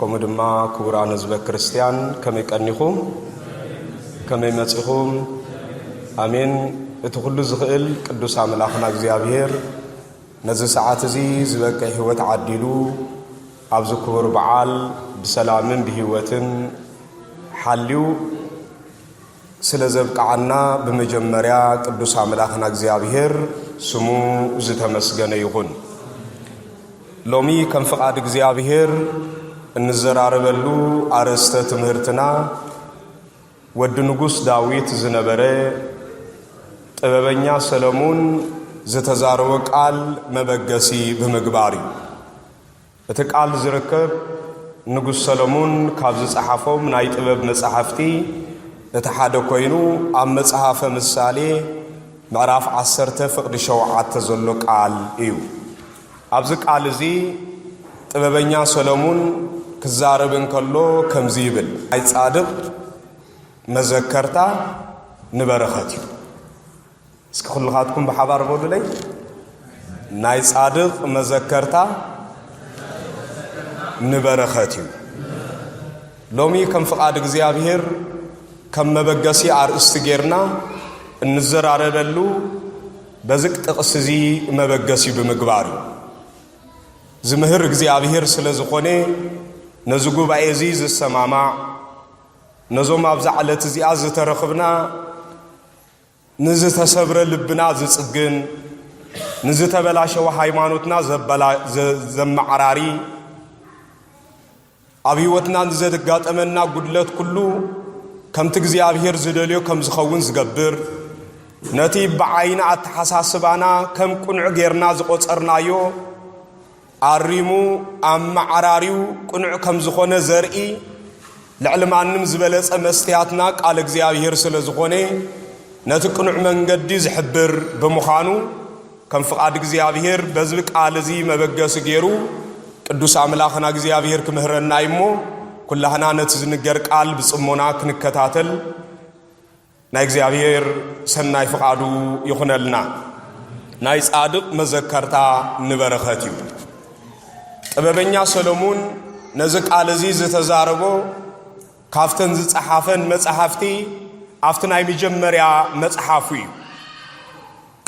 ከምኡ ድማ ክቡራን ህዝበ ክርስቲያን ከመይ ቀኒኹም ከመይ መጺኹም ኣሜን እቲ ኩሉ ዝኽእል ቅዱስ ኣምላኽና እግዚኣብሔር ነዚ ሰዓት እዚ ዝበቅዕ ህይወት ዓዲሉ ኣብዚ ክቡር በዓል ብሰላምን ብህይወትን ሓልዩ ስለ ዘብቅዓና ብመጀመርያ ቅዱስ ኣምላኽና እግዚኣብሔር ስሙ ዝተመስገነ ይኹን። ሎሚ ከም ፍቓድ እግዚኣብሔር እንዘራረበሉ ኣርእስተ ትምህርትና ወዲ ንጉሥ ዳዊት ዝነበረ ጥበበኛ ሰለሙን ዝተዛረወ ቃል መበገሲ ብምግባር እዩ። እቲ ቃል ዝርከብ ንጉስ ሰለሙን ካብ ዝጸሓፎም ናይ ጥበብ መጻሕፍቲ እቲ ሓደ ኮይኑ ኣብ መጽሐፈ ምሳሌ ምዕራፍ ዓሰርተ ፍቕዲ ሸውዓተ ዘሎ ቃል እዩ። ኣብዚ ቃል እዚ ጥበበኛ ሰለሙን ክዛረብ እንከሎ ከምዚ ይብል ናይ ጻድቕ መዘከርታ ንበረኸት እዩ። እስኪ ኩልኻትኩም ብሓባር በሉለይ ናይ ጻድቕ መዘከርታ ንበረኸት እዩ ሎሚ ከም ፍቓድ እግዚኣብሔር ከም መበገሲ ኣርእስቲ ጌርና እንዘራረበሉ በዚ ጥቕሲ እዚ መበገሲ ብምግባር እዩ ዝምህር እግዚኣብሔር ስለ ዝኾነ ነዚ ጉባኤ እዚ ዝሰማማዕ ነዞም ኣብዛ ዕለት እዚኣ ዝተረኽብና ንዝተሰብረ ልብና ዝጽግን፣ ንዝተበላሸወ ሃይማኖትና ዘመዓራሪ፣ ኣብ ህይወትና ንዘጋጠመና ጉድለት ኩሉ ከምቲ እግዚኣብሔር ዝደልዮ ከም ዝኸውን ዝገብር፣ ነቲ ብዓይኒ ኣተሓሳስባና ከም ቁኑዕ ጌርና ዝቖጸርናዮ ኣሪሙ ኣመዓራርዩ ቅኑዕ ከም ዝኾነ ዘርኢ ልዕሊ ማንም ዝበለጸ መስትያትና ቃል እግዚኣብሔር ስለ ዝኾነ ነቲ ቅኑዕ መንገዲ ዝሕብር ብምዃኑ ከም ፍቓድ እግዚኣብሔር በዝቢ ቃል እዚ መበገሲ ገይሩ ቅዱስ ኣምላኽና እግዚኣብሔር ክምህረና እዩሞ ኩላህና ነቲ ዝንገር ቃል ብጽሞና ክንከታተል ናይ እግዚኣብሔር ሰናይ ፍቓዱ ይኹነልና። ናይ ጻድቕ መዘከርታ ንበረኸት እዩ። ጥበበኛ ሰለሙን ነዚ ቃል እዚ ዝተዛረቦ ካብተን ዝጸሓፈን መጻሕፍቲ ኣብቲ ናይ መጀመርያ መጽሓፉ እዩ።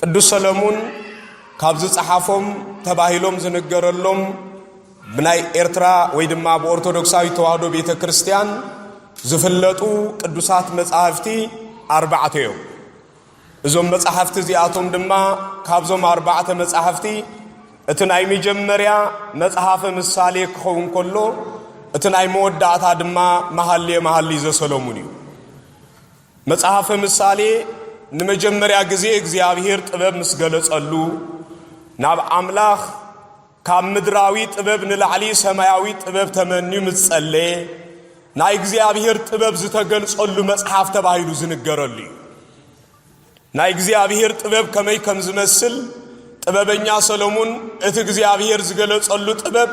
ቅዱስ ሰለሙን ካብ ዝጸሓፎም ተባሂሎም ዝንገረሎም ብናይ ኤርትራ ወይ ድማ ብኦርቶዶክሳዊ ተዋህዶ ቤተ ክርስቲያን ዝፍለጡ ቅዱሳት መጻሕፍቲ ኣርባዕተ እዮም። እዞም መጻሕፍቲ እዚኣቶም ድማ ካብዞም ኣርባዕተ መጻሕፍቲ እቲ ናይ መጀመርያ መጽሓፈ ምሳሌ ክኸውን ከሎ እቲ ናይ መወዳእታ ድማ መሃልየ መሃሊ ዘሰለሙን እዩ መጽሐፈ ምሳሌ ንመጀመርያ ግዜ እግዚኣብሔር ጥበብ ምስ ገለጸሉ ናብ ኣምላኽ ካብ ምድራዊ ጥበብ ንላዕሊ ሰማያዊ ጥበብ ተመንዩ ምስ ጸለየ ናይ እግዚኣብሔር ጥበብ ዝተገልጸሉ መጽሓፍ ተባሂሉ ዝንገረሉ እዩ ናይ እግዚኣብሔር ጥበብ ከመይ ከም ዝመስል ጥበበኛ ሰሎሙን እቲ እግዚኣብሔር ዝገለጸሉ ጥበብ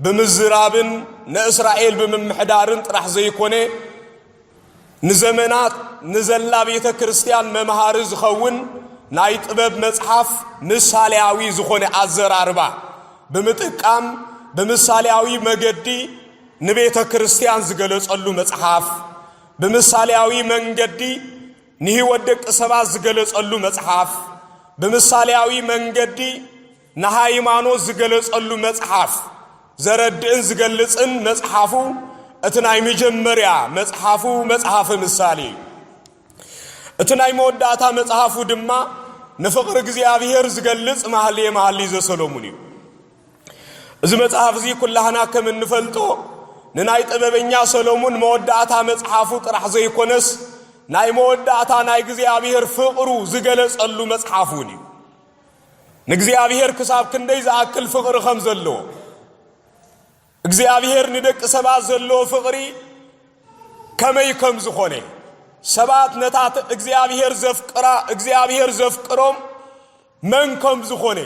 ብምዝራብን ንእስራኤል ብምምሕዳርን ጥራሕ ዘይኮነ ንዘመናት ንዘላ ቤተ ክርስቲያን መምሃሪ ዝኸውን ናይ ጥበብ መጽሓፍ ምሳሌያዊ ዝኾነ ኣዘራርባ ብምጥቃም ብምሳሌያዊ መገዲ ንቤተ ክርስቲያን ዝገለጸሉ መጽሓፍ ብምሳሌያዊ መንገዲ ንህይወት ደቂ ሰባት ዝገለጸሉ መጽሓፍ ብምሳሌያዊ መንገዲ ንሃይማኖት ዝገለጸሉ መጽሓፍ ዘረድእን ዝገልጽን መጽሓፉ እቲ ናይ መጀመርያ መጽሓፉ መጽሓፈ ምሳሌ እዩ። እቲ ናይ መወዳእታ መጽሓፉ ድማ ንፍቕሪ እግዚኣብሔር ዝገልጽ ማህልየ መሃልይ ዘሰሎሙን እዩ። እዚ መጽሓፍ እዚ ኩላህና ከም እንፈልጦ ንናይ ጥበበኛ ሰሎሙን መወዳእታ መጽሓፉ ጥራሕ ዘይኮነስ ናይ መወዳእታ ናይ እግዚኣብሔር ፍቕሩ ዝገለጸሉ መጽሓፍ እውን እዩ። ንእግዚኣብሔር ክሳብ ክንደይ ዝኣክል ፍቕሪ ከም ዘለዎ እግዚኣብሔር ንደቂ ሰባት ዘለዎ ፍቕሪ ከመይ ከም ዝኾነ ሰባት ነታ እግዚኣብሔር ዘፍቅራ እግዚኣብሔር ዘፍቅሮም መን ከም ዝኾነ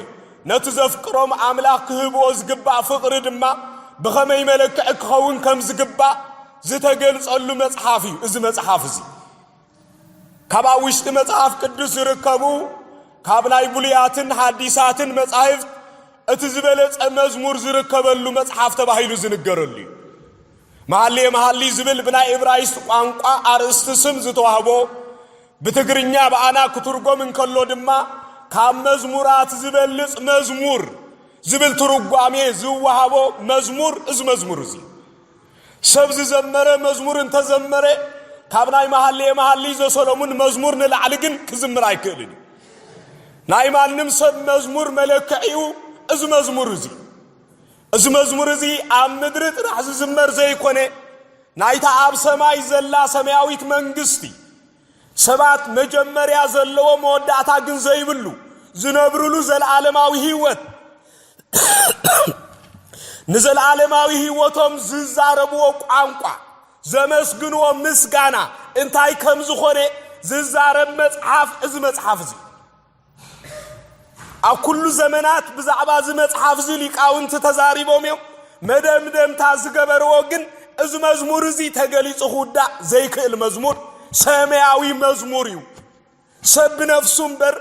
ነቲ ዘፍቅሮም ኣምላኽ ክህብዎ ዝግባእ ፍቕሪ ድማ ብኸመይ መለክዒ ክኸውን ከም ዝግባእ ዝተገልጸሉ መጽሓፍ እዩ እዚ መጽሓፍ እዚ ካብ ኣብ ውሽጢ መጽሓፍ ቅዱስ ዝርከቡ ካብ ናይ ብሉያትን ሓዲሳትን መጻሕፍት እቲ ዝበለጸ መዝሙር ዝርከበሉ መጽሓፍ ተባሂሉ ዝንገረሉ እዩ መሃሌ መሃሊ ዝብል ብናይ እብራይስጥ ቋንቋ ኣርእስቲ ስም ዝተዋህቦ ብትግርኛ ብኣና ክትርጎም እንከሎ ድማ ካብ መዝሙራት ዝበልጽ መዝሙር ዝብል ትርጓሜ ዝወሃቦ መዝሙር እዚ መዝሙር እዚ ሰብ ዝዘመረ መዝሙር እንተ ዘመረ፣ ካብ ናይ መሃልየ መሃልይ ዘሰሎሙን መዝሙር ንላዕሊ ግን ክዝምር ኣይክእልን እዩ። ናይ ማንም ሰብ መዝሙር መለክዒኡ እዚ መዝሙር እዚ እዩ። እዚ መዝሙር እዚ ኣብ ምድሪ ጥራሕ ዝዝመር ዘይኮነ፣ ናይታ ኣብ ሰማይ ዘላ ሰማያዊት መንግስቲ፣ ሰባት መጀመርያ ዘለዎ መወዳእታ ግን ዘይብሉ ዝነብርሉ ዘለዓለማዊ ህይወት ንዘለዓለማዊ ህይወቶም ዝዛረብዎ ቋንቋ ዘመስግንዎ ምስጋና እንታይ ከም ዝኾነ ዝዛረብ መጽሓፍ እዚ መጽሓፍ እዚ ኣብ ኩሉ ዘመናት ብዛዕባ እዚ መጽሓፍ እዚ ሊቃውንቲ ተዛሪቦም እዮም መደምደምታ ዝገበርዎ ግን እዚ መዝሙር እዚ ተገሊጹ ክውዳእ ዘይክእል መዝሙር ሰማያዊ መዝሙር እዩ ሰብ ብነፍሱ እምበር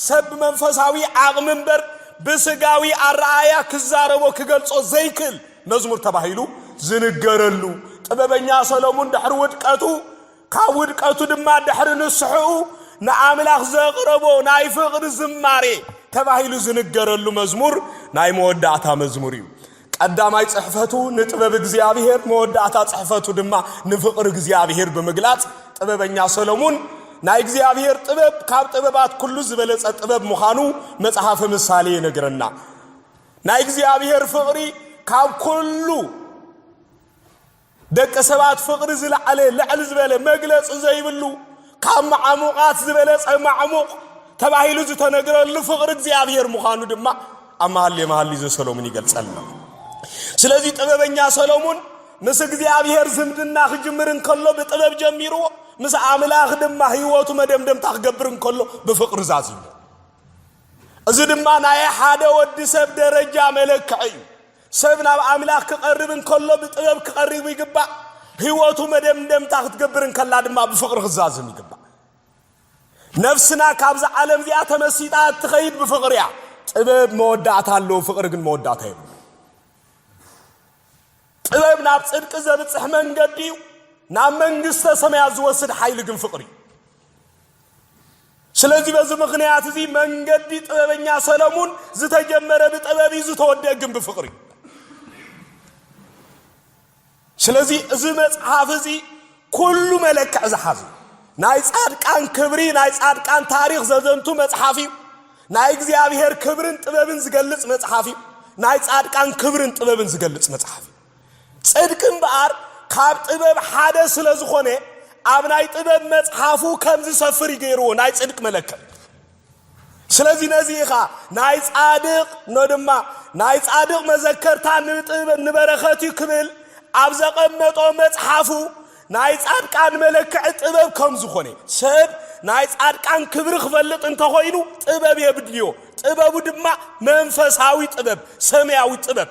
ሰብ ብመንፈሳዊ ዓቕሚ እምበር ብስጋዊ ኣረኣያ ክዛረቦ ክገልጾ ዘይክእል መዝሙር ተባሂሉ ዝንገረሉ ጥበበኛ ሰሎሙን ድሕሪ ውድቀቱ ካብ ውድቀቱ ድማ ድሕሪ ንስሕኡ ንኣምላኽ ዘቕረቦ ናይ ፍቕሪ ዝማሬ ተባሂሉ ዝንገረሉ መዝሙር ናይ መወዳእታ መዝሙር እዩ። ቀዳማይ ጽሕፈቱ ንጥበብ እግዚኣብሔር መወዳእታ ጽሕፈቱ ድማ ንፍቕሪ እግዚኣብሔር ብምግላጽ ጥበበኛ ሰሎሙን ናይ እግዚኣብሔር ጥበብ ካብ ጥበባት ኩሉ ዝበለጸ ጥበብ ምዃኑ መጽሓፈ ምሳሌ ይነግረና ናይ እግዚኣብሔር ፍቕሪ ካብ ኩሉ ደቂ ሰባት ፍቕሪ ዝለዓለ ልዕል ዝበለ መግለፂ ዘይብሉ ካብ መዓሙቓት ዝበለፀ ማዕሙቕ ተባሂሉ ዝተነግረሉ ፍቕሪ እግዚኣብሔር ምዃኑ ድማ ኣብ መሃሌ መሃሊ ዘሰሎሙን ይገልጸልና። ስለዚህ ጥበበኛ ሰሎሙን ምስ እግዚኣብሔር ዝምድና ክጅምር እንከሎ ብጥበብ ጀሚርዎ ምስ ኣምላኽ ድማ ህይወቱ መደምደምታ ክገብር እንከሎ ብፍቕሪ ዛዝሞ እዚ ድማ ናይ ሓደ ወዲ ሰብ ደረጃ መለክዒ እዩ ሰብ ናብ ኣምላኽ ክቐርብ እንከሎ ብጥበብ ክቐርብ ይግባእ። ህይወቱ መደምደምታ ክትገብር እንከላ ድማ ብፍቕሪ ክዛዝም ይግባእ። ነፍስና ካብዛ ዓለም እዚኣ ተመሲጣ እትኸይድ ብፍቕሪ እያ። ጥበብ መወዳእታ ኣለዎ፣ ፍቕሪ ግን መወዳእታ የብሉ። ጥበብ ናብ ጽድቂ ዘብጽሕ መንገዲ እዩ። ናብ መንግስተ ሰማያት ዝወስድ ሓይሊ ግን ፍቕሪ እዩ። ስለዚ በዚ ምኽንያት እዚ መንገዲ ጥበበኛ ሰለሙን ዝተጀመረ ብጥበብ እዩ ዝተወደእ ግን ብፍቕሪ እዩ። ስለዚ እዚ መጽሓፍ እዚ ኩሉ መለክዕ ዝሓዙ ናይ ጻድቃን ክብሪ ናይ ጻድቃን ታሪኽ ዘዘንቱ መጽሓፍ እዩ ናይ እግዚኣብሔር ክብርን ጥበብን ዝገልጽ መጽሓፍ እዩ ናይ ጻድቃን ክብርን ጥበብን ዝገልጽ መጽሓፍ እዩ ጽድቂ እምበኣር ካብ ጥበብ ሓደ ስለ ዝኾነ ኣብ ናይ ጥበብ መጽሓፉ ከም ዝሰፍር እዩ ገይርዎ ናይ ጽድቂ መለከት ስለዚ ነዚ ኢኻ ናይ ጻድቕ ኖ ድማ ናይ ጻድቕ መዘከርታ ንጥበብ ንበረኸት እዩ ክብል ኣብ ዘቐመጦ መጽሓፉ ናይ ጻድቃን መለክዒ ጥበብ ከም ዝኾነ ሰብ ናይ ጻድቃን ክብሪ ክፈልጥ እንተኾይኑ ጥበብ የብድልዮ ጥበቡ ድማ መንፈሳዊ ጥበብ ሰማያዊ ጥበብ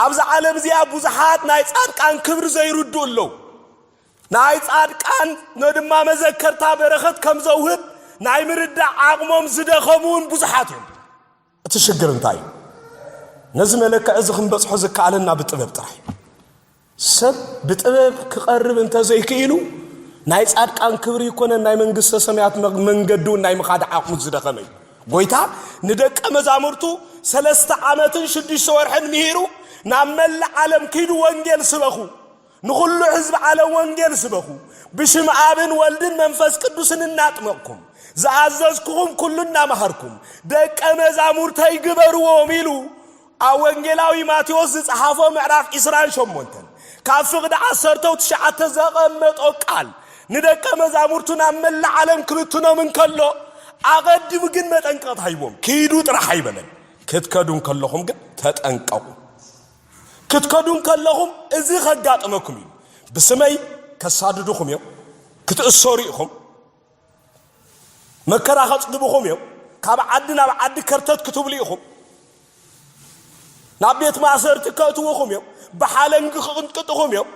ኣብዛ ዓለም እዚኣ ብዙሓት ናይ ጻድቃን ክብሪ ዘይርድኡ ኣለዉ። ናይ ጻድቃን ነድማ መዘከርታ በረኸት ከም ዘውህብ ናይ ምርዳእ ዓቕሞም ዝደኸሙ እውን ብዙሓት እዮም። እቲ ሽግር እንታይ እዩ? ነዚ መለክዒ እዚ ክንበጽሖ ዝከኣለና ብጥበብ ጥራሕ እዩ። ሰብ ብጥበብ ክቐርብ እንተዘይክኢሉ ናይ ጻድቃን ክብሪ ይኮነን ናይ መንግስተ ሰማያት መንገዲውን ናይ ምኻድ ዓቕሙ ዝደኸመ እዩ። ጎይታ ንደቀ መዛሙርቱ ሰለስተ ዓመትን ሽዱሽተ ወርሕን ምሂሩ ናብ መላእ ዓለም ኪዱ ወንጌል ስበኹ፣ ንኹሉ ህዝቢ ዓለም ወንጌል ስበኹ፣ ብሽም ኣብን ወልድን መንፈስ ቅዱስን እናጥመቕኩም ዝኣዘዝኩኹም ኩሉ እናመሃርኩም ደቀ መዛሙርተይ ግበርዎም ኢሉ ኣብ ወንጌላዊ ማቴዎስ ዝጸሓፎ ምዕራፍ ዒስራን ሸሞንተን ካብ ፍቕዲ ዓሰርተው ትሽዓተ ዘቐመጦ ቃል ንደቀ መዛሙርቱ ናብ መላእ ዓለም ክብትኖም እንከሎ ኣቐዲሙ ግን መጠንቀቕታ ሂቦም ክይዱ ጥራሕ ኣይበለን ክትከዱ እንከለኹም ግን ተጠንቀቑ ክትከዱ እንከለኹም እዚ ከጋጥመኩም እዩ ብስመይ ከሳድዱኹም እዮም ክትእሰሩ ኢኹም መከራ ከጽግብኹም እዮም፣ ካብ ዓዲ ናብ ዓዲ ከርተት ክትብሉ ኢኹም፣ ናብ ቤት ማእሰርቲ ከእትውኹም እዮም፣ ብሓለንጊ ክቕንጥጥኹም እዮም፣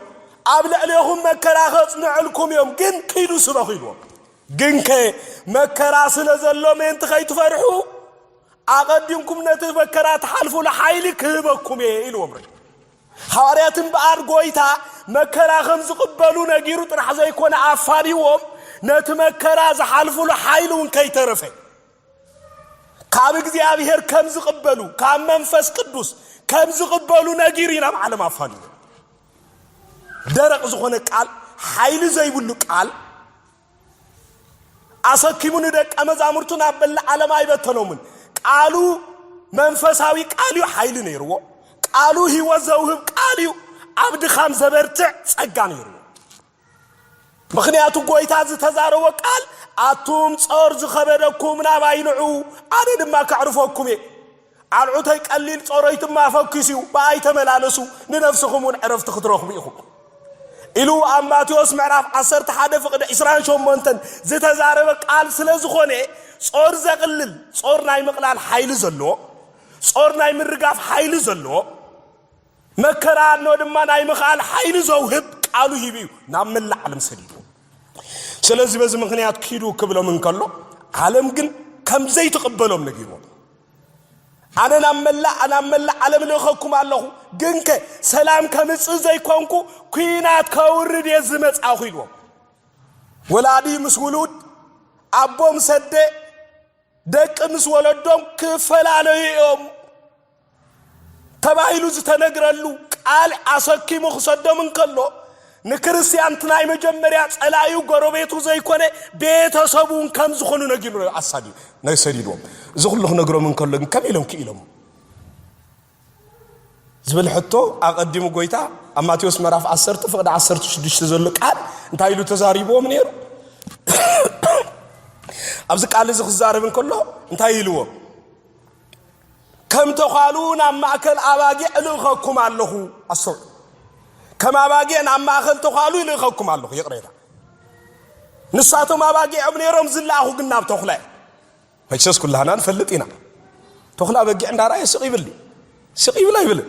ኣብ ልዕሌኹም መከራ ከጽንዕልኩም እዮም፣ ግን ኪዱ ስበኹ ኢልዎም። ግንከ መከራ ስለ ዘሎ ምእንቲ ከይትፈርሑ ኣቐዲምኩም ነቲ መከራ ትሓልፉሉ ሓይሊ ክህበኩም እየ ኢልዎም። ሃዋርያት እምበኣር ጐይታ መከራ ከም ዝቕበሉ ነጊሩ ጥራሕ ዘይኮነ ኣፋኒዎም ነቲ መከራ ዝሓልፉሉ ሓይሊ እውን ከይተረፈ ካብ እግዚኣብሔር ከም ዝቕበሉ ካብ መንፈስ ቅዱስ ከም ዝቕበሉ ነጊሩ ኢና ብዓለም ኣፋልዩ ደረቕ ዝኾነ ቃል ሓይሊ ዘይብሉ ቃል ኣሰኪሙ ንደቀ መዛሙርቱ ናብ መላእ ዓለም ኣይበተኖምን። ቃሉ መንፈሳዊ ቃል እዩ፣ ሓይሊ ነይርዎ። ቃሉ ህይወት ዘውህብ ቃል እዩ፣ ኣብ ድኻም ዘበርትዕ ጸጋ ነይርዎ። ምክንያቱ ጎይታ ዝተዛረቦ ቃል ኣቱም ጾር ዝኸበደኩም ናባይ ንዑ ኣነ ድማ ከዕርፈኩም እየ ኣርዑተይ ቀሊል ጾሮይት እማ ኣፈኪሱ እዩ ብኣይ ተመላለሱ ንነፍስኹም እውን ዕረፍቲ ክትረኽቡ ኢኹም ኢሉ ኣብ ማቴዎስ ምዕራፍ ዓሰርተ ሓደ ፍቕዲ ዕስራን ሸሞንተን ዝተዛረበ ቃል ስለ ዝኾነ ጾር ዘቕልል ጾር ናይ ምቕላል ሓይሊ ዘለዎ ጾር ናይ ምርጋፍ ሓይሊ ዘለዎ መከራ እኖ ድማ ናይ ምኽኣል ሓይሊ ዘውህብ ቃሉ ሂቡ እዩ ናብ መላእ ዓለም ሰዲዱ ስለዚ በዚ ምክንያት ኪዱ ክብሎም እንከሎ ዓለም ግን ከም ዘይትቕበሎም ነጊርዎም ኣነ ናብ መላእ ናብ መላእ ዓለም ልእኸኩም ኣለኹ፣ ግንከ ሰላም ከምጽእ ዘይኮንኩ ኲናት ከውርድ እየ ዝመጻኹ ኢልዎም። ወላዲ ምስ ውሉድ፣ ኣቦ ምስ ኣደ፣ ደቂ ምስ ወለዶም ክፈላለዩ እዮም። ተባሂሉ ዝተነግረሉ ቃል ኣሰኪሙ ክሰዶም እንከሎ፣ ንክርስትያን እቲ ናይ መጀመርያ ጸላኢኡ ጎረቤቱ ዘይኮነ ቤተ ሰቡን ከም ዝኾኑ ነጊሩ ኣሳዲ ናይ ሰዲድዎም። እዚ ኩሉ ክነግሮም እንከሎ ግን ከመይ ኢሎም ክኢሎም? ዝብል ሕቶ ኣቐዲሙ ጎይታ ኣብ ማቴዎስ ምዕራፍ 10 ፍቕዲ 16 ዘሎ ቃል እንታይ ኢሉ ተዛሪብዎም ነይሩ? ኣብዚ ቃል እዚ ክዛረብ እንከሎ እንታይ ኢልዎም? ከም ተዃሉ ናብ ማእከል ኣባጊዕ እልእኸኩም ኣለኹ። ኣስተውዕሉ። ከም ኣባጊዕ ናብ ማእከል ተዃሉ ይልእኸኩም ኣለኹ። ይቕሬታ። ንሳቶም ኣባጊዖም ነይሮም ዝለኣኹ ግን ናብ ተኹላ እዩ። መቸስ ኩላህና ንፈልጥ ኢና። ተኹላ በጊዕ እንዳረኣየ ስቕ ይብል ስቕ ይብል ኣይብልን።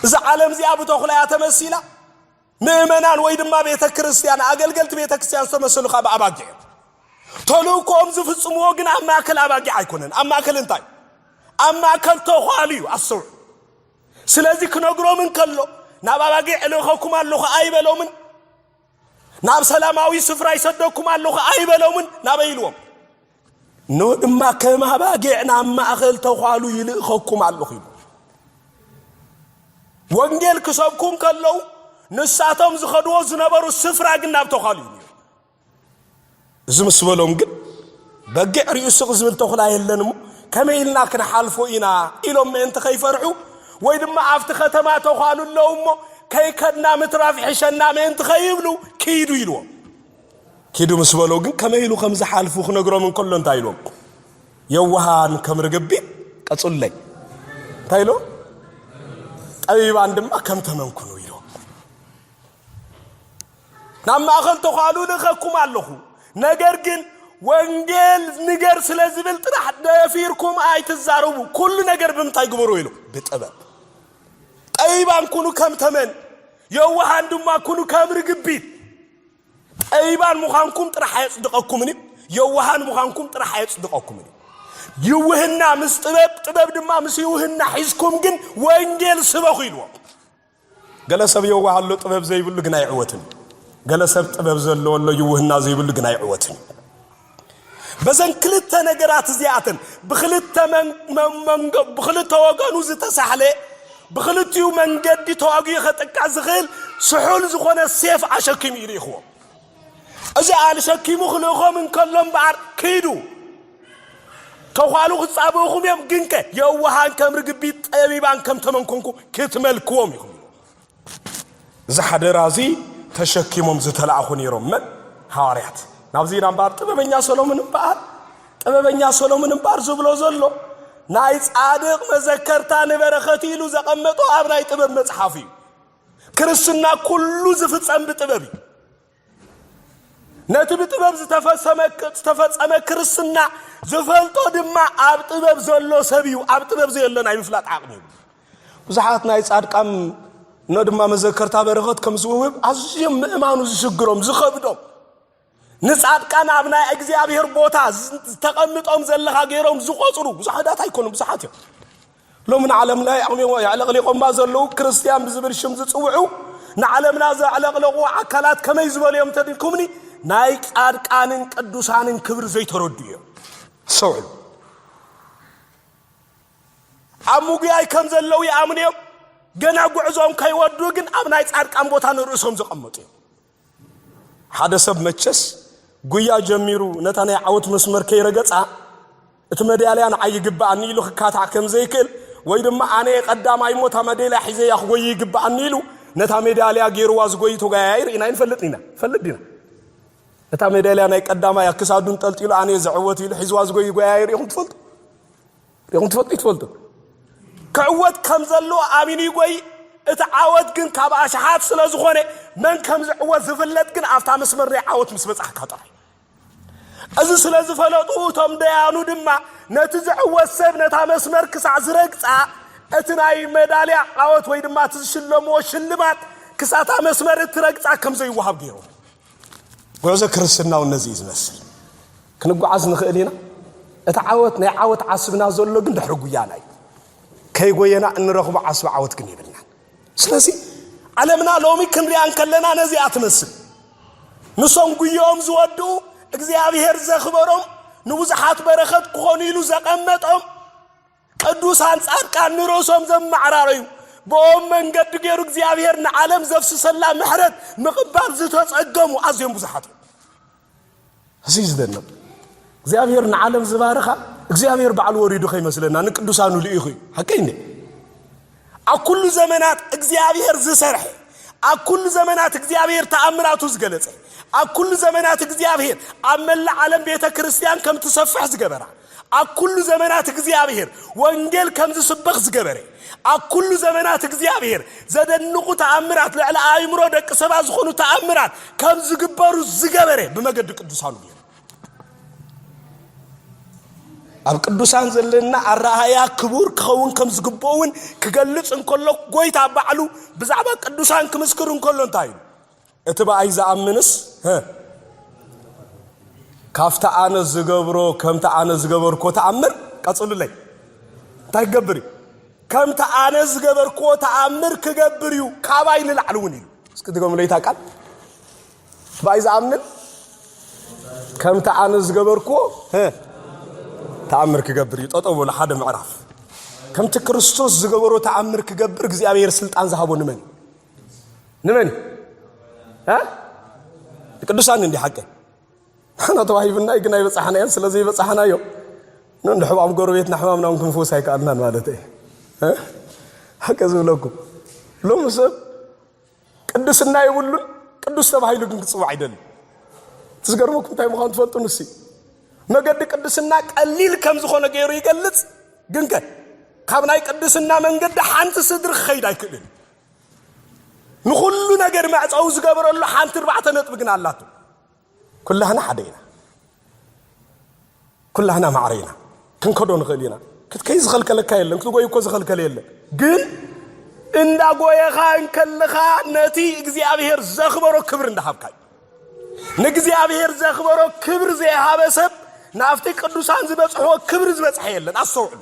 እዛ ዓለም እዚኣ ብተኹላ እያ ተመሲላ። ምእመናን ወይ ድማ ቤተ ክርስቲያን፣ ኣገልገልቲ ቤተ ክርስቲያን ዝተመሰሉ ካብ ኣባጊዕ እዮም። ተልእኮኦም ዝፍጽምዎ ግን ኣብ ማእከል ኣባጊዕ ኣይኮነን። ኣብ ማእከል እንታይ? ኣብ ማእከል ተዃሉ እዩ። ኣስተውዕሉ። ስለዚ ክነግሮም እንከሎ ናብ ኣባጊዕ እልእኸኩም ኣለኹ ኣይበሎምን። ናብ ሰላማዊ ስፍራ ይሰደኩም ኣለኹ ኣይበሎምን። ናበይ ኢልዎም? ኖህ ድማ ከም ኣባጊዕ ናብ ማእኸል ተዃሉ ይልእኸኩም ኣለኹ ይብሉ። ወንጌል ክሰብኩ እንከለዉ ንሳቶም ዝኸድዎ ዝነበሩ ስፍራ ግን ናብ ተዃሉ እዩ ነይሩ። እዚ ምስ በሎም ግን በጊዕ ርእዩ ስቕ ዝብል ተኹላ የለን እሞ ከመይ ኢልና ክንሓልፎ ኢና ኢሎም ምእንቲ ከይፈርሑ ወይ ድማ ኣብቲ ከተማ ተዃሉ ኣለዉ እሞ ከይከድና ምትራፍ ይሕሸና ምእንቲ ከይብሉ ክይዱ ኢልዎም ኪዱ ምስ በሎ ግን ከመይ ኢሉ ከም ዝሓልፉ ክነግሮም እንከሎ እንታይ ኢሎም የዋሃን ከም ርግቢ ቀጹለይ እንታይ ኢሎ ጠቢባን ድማ ከም ተመንኩኑ ኢሎ ናብ ማእኸል ተዃሉ ልኸኩም ኣለኹ ነገር ግን ወንጌል ንገር ስለ ዝብል ጥራሕ ደፊርኩም ኣይትዛረቡ ኩሉ ነገር ብምንታይ ግበሩ ኢሉ ብጥበብ ጠቢባን ኩኑ ከም ተመን የዋሃን ድማ ኩኑ ከም ርግቢት ጠቢባን ምዃንኩም ጥራሕ ኣየጽድቐኩምን እዩ፣ የዋሃን ምዃንኩም ጥራሕ ኣየጽድቐኩምን እዩ። ይውህና ምስ ጥበብ፣ ጥበብ ድማ ምስ ይውህና ሒዝኩም ግን ወንጌል ስበኹ ኢልዎ። ገለ ሰብ የዋህ ኣሎ ጥበብ ዘይብሉ ግን ኣይዕወትን። ገለ ሰብ ጥበብ ዘለዎ ኣሎ ይውህና ዘይብሉ ግን ኣይዕወትን። በዘን ክልተ ነገራት እዚኣተን ብክልተ ብክልተ ወገኑ ዝተሳሕለ ብክልቲኡ መንገዲ ተዋጊኡ ከጥቃዕ ዝኽእል ስሑል ዝኾነ ሴፍ ኣሸኪሙ እዩ ልኢኽዎ እዚ ኣልሸኪሙ ክልእኾም እንከሎ እምበኣር ክይዱ ተዃሉ ክጻብእኹም እዮም ግንከ የዋሃን ከም ርግቢት ጠቢባን ከም ተመንኮንኩ ክትመልክዎም ኢኹም እዚ ሓደራ እዚ ተሸኪሞም ዝተላእኹ ነይሮም መን ሃዋርያት ናብዚ ኢና እምበኣር ጥበበኛ ሰሎምን እምበኣር ጥበበኛ ሰሎምን እምበኣር ዝብሎ ዘሎ ናይ ጻድቕ መዘከርታ ንበረኸት ኢሉ ዘቐመጦ ኣብ ናይ ጥበብ መጽሓፍ እዩ ክርስትና ኩሉ ዝፍጸም ብጥበብ እዩ ነቲ ብጥበብ ዝተፈሰመ ዝተፈጸመ ክርስትና ዝፈልጦ ድማ ኣብ ጥበብ ዘሎ ሰብ እዩ ኣብ ጥበብ ዘየሎ ናይ ምፍላጥ ዓቕሚ ይብሉ ብዙሓት ናይ ጻድቃም እነ ድማ መዘከርታ በረኸት ከም ዝውህብ ኣዝዮም ምእማኑ ዝሽግሮም ዝኸብዶም ንጻድቃን ኣብ ናይ እግዚኣብሔር ቦታ ዝተቐምጦም ዘለኻ ገይሮም ዝቖጽሩ ብዙሓት ኣይኮኑም ብዙሓት እዮም ሎሚ ንዓለም ናይ ኣቕሊሞ የዕለቕሊቖማ ዘለዉ ክርስትያን ብዝብል ሽም ዝጽውዑ ንዓለምና ዘዕለቕለቑ ኣካላት ከመይ ዝበሉ እዮም ተድኩምኒ ናይ ጻድቃንን ቅዱሳንን ክብሪ ዘይተረዱ እዮም ሰውዕሉ ኣብ ምጉያይ ከም ዘለዉ ይኣምኑ እዮም ገና ጉዕዞም ከይወዱ ግን ኣብ ናይ ጻድቃን ቦታ ንርእሶም ዘቐመጡ እዮም ሓደ ሰብ መቸስ ጉያ ጀሚሩ ነታ ናይ ዓወት መስመር ከይረገጻ እቲ መዳልያ ንዓይ ይግብኣኒ ኢሉ ክካታዕ ከም ዘይክእል ወይ ድማ ኣነ ቀዳማይ እሞ እታ መዳልያ ሒዘያ ክጎይ ይግብኣኒ ኢሉ ነታ ሜዳልያ ገይርዋ ዝጎይ ተጓያያይ ርኢና ይንፈልጥ ኢና ፈልጥ ዲና እታ ሜዳልያ ናይ ቀዳማይ ኣክሳዱን ጠልጢሉ ኣነ ዘዕወት ኢሉ ሒዝዋ ዝጎይ ጓያያይ ርኢኹም ትፈልጡ ሪኹም ትፈልጡ ይትፈልጡ ክዕወት ከም ዘለዎ ኣሚኑ ይጎይ እቲ ዓወት ግን ካብ ኣሽሓት ስለ ዝኾነ መን ከም ዝዕወት ዝፍለጥ ግን ኣብታ መስመር ናይ ዓወት ምስ በጻሕካ ጥራይ እዚ ስለ ዝፈለጡ እቶም ደያኑ ድማ ነቲ ዝዕወት ሰብ ነታ መስመር ክሳዕ ዝረግጻ እቲ ናይ መዳልያ ዓወት ወይ ድማ እቲ ዝሽለምዎ ሽልማት ክሳታ መስመር እትረግጻ ከም ዘይወሃብ ገይሮም ጉዕዞ ክርስትና እውን ነዚ እዩ ዝመስል። ክንጓዓዝ ንኽእል ኢና። እቲ ዓወት ናይ ዓወት ዓስብና ዘሎ ግን ድሕሪ ጉያና እዩ። ከይጎየና እንረኽቦ ዓስቢ ዓወት ግን የብልናን። ስለዚ ዓለምና ሎሚ ክንሪኣ እንከለና ነዚኣ ትመስል። ንሶም ጉየኦም ዝወድኡ እግዚኣብሔር ዘኽበሮም ንብዙሓት በረኸት ክኾኑ ኢሉ ዘቐመጦም ቅዱሳን ጻድቃን ንርእሶም ዘማዕራረዩ፣ ብኦም መንገዲ ገይሩ እግዚኣብሔር ንዓለም ዘፍስሰላ ምሕረት ምቕባል ዝተጸገሙ ኣዝዮም ብዙሓት እዮም። እዚ ዝደነቕ እግዚኣብሔር ንዓለም ዝባረኻ እግዚኣብሔር ባዕሉ ወሪዱ ከይመስለና ንቅዱሳኑ ልኢኹ እዩ። ሓቀይ እንዴ ኣብ ኩሉ ዘመናት እግዚኣብሔር ዝሰርሐ፣ ኣብ ኩሉ ዘመናት እግዚኣብሔር ተኣምራቱ ዝገለጸ፣ ኣብ ኩሉ ዘመናት እግዚኣብሔር ኣብ መላእ ዓለም ቤተ ክርስቲያን ከም ትሰፍሕ ዝገበራ፣ ኣብ ኩሉ ዘመናት እግዚኣብሔር ወንጌል ከም ዝስበኽ ዝገበረ፣ ኣብ ኩሉ ዘመናት እግዚኣብሔር ዘደንቑ ተኣምራት ልዕሊ ኣእምሮ ደቂ ሰባት ዝኾኑ ተኣምራት ከም ዝግበሩ ዝገበረ ብመገዲ ቅዱሳኑ ገይሩ። ኣብ ቅዱሳን ዘለና ኣረኣያ ክቡር ክኸውን ከም ዝግብኦ እውን ክገልጽ እንከሎ ጎይታ ባዕሉ ብዛዕባ ቅዱሳን ክምስክር እንከሎ እንታይ እዩ እቲ ብኣይ ዝኣምንስ ካብቲ ኣነ ዝገብሮ ከምቲ ኣነ ዝገበርኮ ተኣምር ቀጽሉለይ እንታይ ክገብር እዩ ከምቲ ኣነ ዝገበርክዎ ተኣምር ክገብር እዩ ካባይ ንላዕሊ እውን ኢሉ እስኪ ድገምለይታ ቃል ባይ ዝኣምን ከምቲ ኣነ ዝገበርክዎ ተኣምር ክገብር እዩ ጠጠው በሉ ሓደ ምዕራፍ ከምቲ ክርስቶስ ዝገበሮ ተኣምር ክገብር እግዚኣብሔር ስልጣን ዝሃቦ ንመን ንመን ቅዱሳን እንዲ ሓቂ ንሕና ተዋሂብና ግን ኣይበፃሕናዮን ስለ ዘይበፃሕናዮ ንሕባም ጎረቤትና ሕማምና እውን ክንፍውስ ኣይከኣልናን ማለት እየ ሓቂ ዝብለኩም ሎሚ ሰብ ቅድስና የብሉን፣ ቅዱስ ተባሂሉ ግን ክጽዋዕ ይደሊ። እቲ ዝገርመኩም እንታይ ምዃኑ ትፈልጡ? ንሲ መገዲ ቅድስና ቀሊል ከም ዝኾነ ገይሩ ይገልጽ፣ ግን ከ ካብ ናይ ቅድስና መንገዲ ሓንቲ ስድሪ ክኸይድ ኣይክእልን። ንኹሉ ነገር መዕፀዊ ዝገበረሉ ሓንቲ እርባዕተ ነጥቢ ግን ኣላቶ። ኩላህና ሓደ ኢና ኩላህና ማዕረ ኢና ክንከዶ ንኽእል ኢና ክትከይ ዝኸልከለካ የለን ክትጎይ እኮ ዝኸልከለ የለን ግን እንዳጎየኻ እንከለኻ ነቲ እግዚኣብሔር ዘኽበሮ ክብሪ እንዳሃብካ ንእግዚኣብሔር ዘኽበሮ ክብሪ ዘይሃበ ሰብ ናብቲ ቅዱሳን ዝበጽሕዎ ክብሪ ዝበጽሐ የለን ኣስተውዕሉ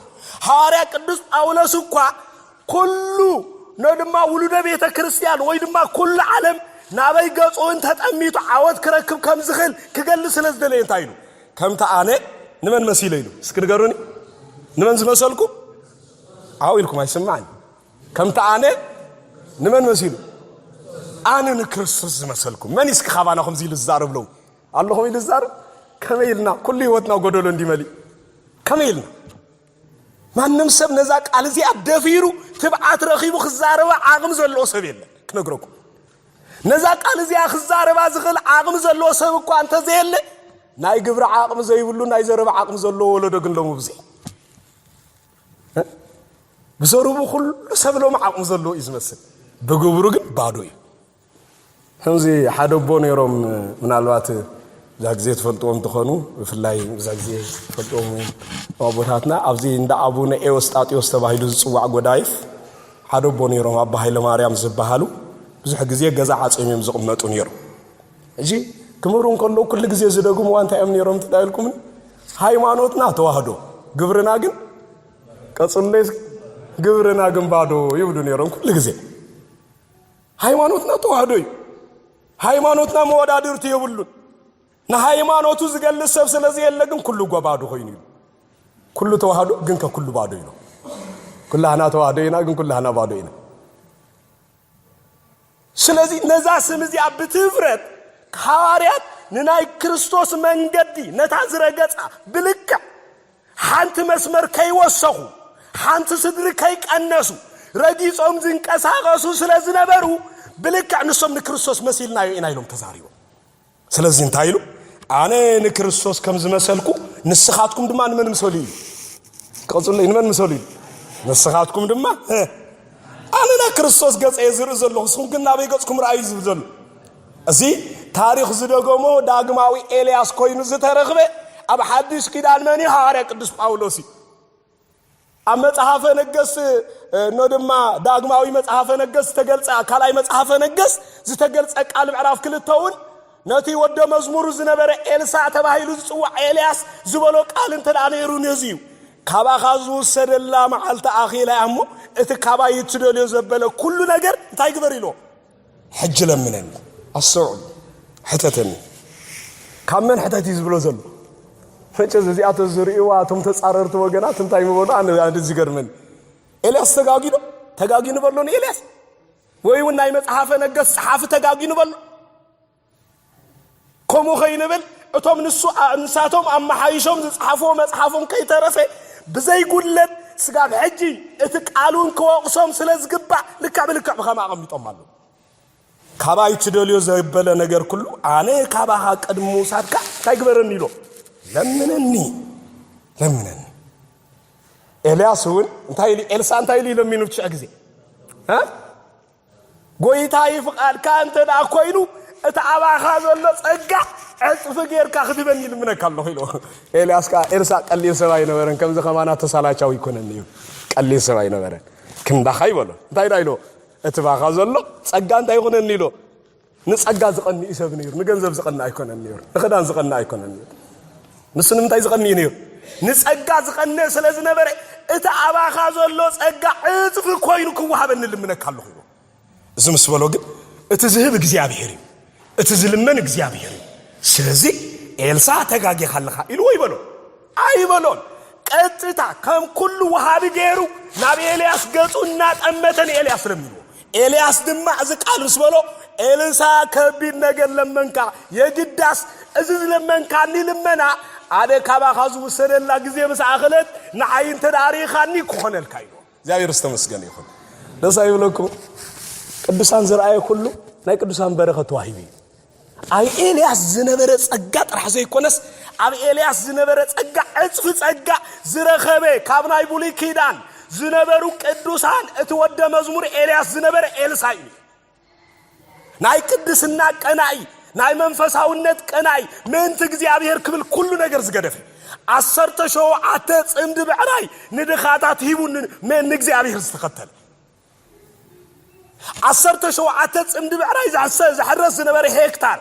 ሃዋርያ ቅዱስ ጳውሎስ እኳ ኩሉ ን ድማ ውሉደ ቤተ ክርስቲያን ወይ ድማ ኩሉ ዓለም ናበይ ገጹ እንተ ጠሚቱ ዓወት ክረክብ ከም ዝኽእል ክገልጽ ስለ ዝደለየ እንታይ ኢሉ ከምቲ ኣነ ንመን መሲለ ኢሉ እስኪ ንገሩኒ ንመን ዝመሰልኩ ዓው ኢልኩም ኣይስማዕን ከምቲ ኣነ ንመን መሲሉ ኣነ ንክርስቶስ ዝመሰልኩም መን እስኪ ካባና ከምዚ ኢሉ ዝዛረብ ለው ኣለኹም ኢሉ ዝዛረብ ከመይ ኢልና ኩሉ ህይወትና ጎደሎ እንዲመሊእ ከመይ ኢልና ማንም ሰብ ነዛ ቃል እዚኣ ደፊሩ ትብዓት ረኺቡ ክዛረባ ዓቕሚ ዘለዎ ሰብ የለን ክነግረኩም ነዛ ቃል እዚኣ ክዛረባ ዝኽእል ዓቕሚ ዘለዎ ሰብ እኳ እንተዘየለ ናይ ግብሪ ዓቕሚ ዘይብሉ ናይ ዘረባ ዓቕሚ ዘለዎ ወለዶ ግን ሎሚ ብዘ ብዘረቡ ኩሉ ሰብ ሎሚ ዓቕሚ ዘለዎ እዩ ዝመስል ብግብሩ ግን ባዶ እዩ ከምዚ ሓደ ኣቦ ነይሮም ምናልባት እዛ ግዜ ትፈልጥዎም ትኾኑ ብፍላይ እዛ ግዜ ትፈልጥዎም ኣቦታትና ኣብዚ እንዳ ኣቡነ ኤዎስጣጢዎስ ተባሂሉ ዝፅዋዕ ጎዳይፍ ሓደ ኣቦ ነይሮም ኣባ ሃይለማርያም ዝበሃሉ ብዙሕ ግዜ ገዛ ዓፅዮም እዮም ዝቕመጡ ነይሩ እዚ ክምህሩ እንከሎ ኩሉ ግዜ ዝደግምዋ እንታይ እዮም ነይሮም ትዳይልኩምን ሃይማኖትና ተዋህዶ ግብርና ግን ቀፅሎ ግብርና ግን ባዶ ይብሉ ነይሮም ኩሉ ግዜ ሃይማኖትና ተዋህዶ እዩ። ሃይማኖትና መወዳድርቲ የብሉን። ንሃይማኖቱ ዝገልጽ ሰብ ስለ ዘየለ ግን ኩሉ ጎባዶ ኮይኑ እዩ። ኩሉ ተዋህዶ ግን ከኩሉ ባዶ ኢና። ኩላህና ተዋህዶ ኢና ግን ኩላህና ባዶ ኢና። ስለዚ ነዛ ስም እዚኣ ብትፍረት ሃዋርያት ንናይ ክርስቶስ መንገዲ ነታ ዝረገጻ ብልክዕ ሓንቲ መስመር ከይወሰኹ፣ ሓንቲ ስድሪ ከይቀነሱ፣ ረጊጾም ዝንቀሳቐሱ ስለ ዝነበሩ፣ ብልክዕ ንሶም ንክርስቶስ መሲልናዮ ኢና ኢሎም ተዛሪቦም። ስለዚ እንታይ ኢሉ? ኣነ ንክርስቶስ ከም ዝመሰልኩ ንስኻትኩም ድማ ንመን ምሰሉ እዩ ቀፅሉ ንመን ምሰሉ እዩ ንስኻትኩም ድማ ኣነ ና ክርስቶስ ገፀ ዝርኢ ዘለኹ ንስኹም ግን ናበይ ገፅኩም ረኣዩ ዝብል ዘሎ እዚ ታሪኽ ዝደገሞ ዳግማዊ ኤልያስ ኮይኑ ዝተረኽበ ኣብ ሓድሽ ኪዳን መን እዩ? ሃዋርያ ቅዱስ ጳውሎስ እዩ። ኣብ መጽሓፈ ነገስት እኖ ድማ ዳግማዊ መጽሓፈ ነገስት ዝተገልጸ ካልኣይ መጽሓፈ ነገስት ዝተገልጸ ቃል ምዕራፍ ክልተ እውን ነቲ ወደ መዝሙሩ ዝነበረ ኤልሳዕ ተባሂሉ ዝጽዋዕ ኤልያስ ዝበሎ ቃል እንተ ደኣ ነይሩ ነዚ እዩ ካባኻ ዝውሰደላ መዓልቲ ኣኺላ እያ እሞ እቲ ካባይ እትደልዮ ዘበለ ኩሉ ነገር እንታይ ግበር ኢልዎ ሕጂ ለምነኒ ኣስተውዕሉ ሕተተኒ ካብ መን ሕተት እዩ ዝብሎ ዘሎ ፈጨዝ እዚኣቶ ዝርእዋ እቶም ተፃረርቲ ወገናት እንታይ ምበሉ ኣነ ዝገርመኒ ኤልያስ ተጋጊዶ ተጋጊኑ በሎ ንኤልያስ ወይ እውን ናይ መፅሓፈ ነገስ ፀሓፊ ተጋጊኑ በሎ ከምኡ ከይንብል እቶም ንሱ ንሳቶም ኣመሓይሾም ዝጸሓፍዎ መጽሓፍን ከይተረፈ ብዘይጉድለት ስጋብ ሕጂ እቲ ቃሉን ክወቕሶም ስለ ዝግባእ ልክዕ ብልክዕ ብኸም ኣቐሚጦም ኣለዉ ካባይ ትደልዮ ዘበለ ነገር ኩሉ ኣነ ካባኻ ቅድሚ ምውሳድካ እንታይ ግበረኒ ኢሎ ለምነኒ ለምነኒ ኤልያስ እውን እንታይ ኢሉ ኤልሳ እንታይ ኢሉ ለሚኑ ትሽዕ ግዜ ጎይታ ይፍቃድካ እንተ ደኣ ኮይኑ እቲ ኣባኻ ዘሎ ጸጋ ዕጽፊ ጌርካ ክትበኒ ይልምነካ ኣለኹ ኢሉ። ኤልያስ ከኣ ኤልሳእ ቀሊል ሰብ ኣይነበረን፣ ከምዚ ከማና ተሳላቻዊ ኣይኮነን እዩ። ቀሊል ሰብ ኣይነበረን። ክንዳኻ ይበሎ። እንታይ ደኣ ኢሎ? እቲ ባኻ ዘሎ ጸጋ እንታይ ይኹነኒ ኢሎ? ንጸጋ ዝቐንእ እዩ ሰብ ነይሩ። ንገንዘብ ዝቐንእ ኣይኮነን ነይሩ። ንኽዳን ዝቐንእ ኣይኮነን ነይሩ። ንሱ ንምንታይ ዝቐንእ እዩ ነይሩ? ንጸጋ ዝቐንእ ስለ ዝነበረ እቲ ኣባኻ ዘሎ ጸጋ ዕጽፊ ኮይኑ ክወሃበኒ ልምነካ ኣለኹ ይብሎ። እዚ ምስ በሎ ግን እቲ ዝህብ እግዚኣብሄር እዩ፣ እቲ ዝልመን እግዚኣብሄር እዩ። ስለዚ ኤልሳ ተጋጊኻ ኣለኻ ኢልዎ ይበሎ። ኣይበሎን። ቀጥታ ከም ኩሉ ወሃቢ ገይሩ ናብ ኤልያስ ገጹ እናጠመተ ንኤልያስ ለሚንዎ። ኤልያስ ድማ እዚ ቃል ምስ በሎ ኤልሳ ከቢድ ነገር ለመንካ፣ የግዳስ እዚ ዝለመንካኒ ልመና ኣነ ካባኻ ዝውሰደላ ግዜ ምስ ኣኸለት ንዓይ እንተ ርኢኻኒ ክኾነልካ ኢልዎ። እግዚኣብሔር ዝተመስገነ ይኹን ደስ ኣይብለኩም ቅዱሳን ዝረኣየ ኩሉ ናይ ቅዱሳን በረኸት ተዋሂቡ እዩ ኣብ ኤልያስ ዝነበረ ጸጋ ጥራሕ ዘይኮነስ ኣብ ኤልያስ ዝነበረ ጸጋ ዕጽፊ ጸጋ ዝረኸበ ካብ ናይ ብሉይ ኪዳን ዝነበሩ ቅዱሳን እቲ ወደ መዝሙር ኤልያስ ዝነበረ ኤልሳ እዩ ናይ ቅድስና ቀናኢ ናይ መንፈሳውነት ቀናኢ ምእንቲ እግዚኣብሔር ክብል ኩሉ ነገር ዝገደፈ ዓሰርተ ሸውዓተ ጽምዲ ብዕራይ ንድኻታት ሂቡ ንእግዚኣብሔር ዝተኸተለ ዓሰርተ ሸውዓተ ፅምዲ ብዕራይ ዝሕረስ ዝነበረ ሄክታር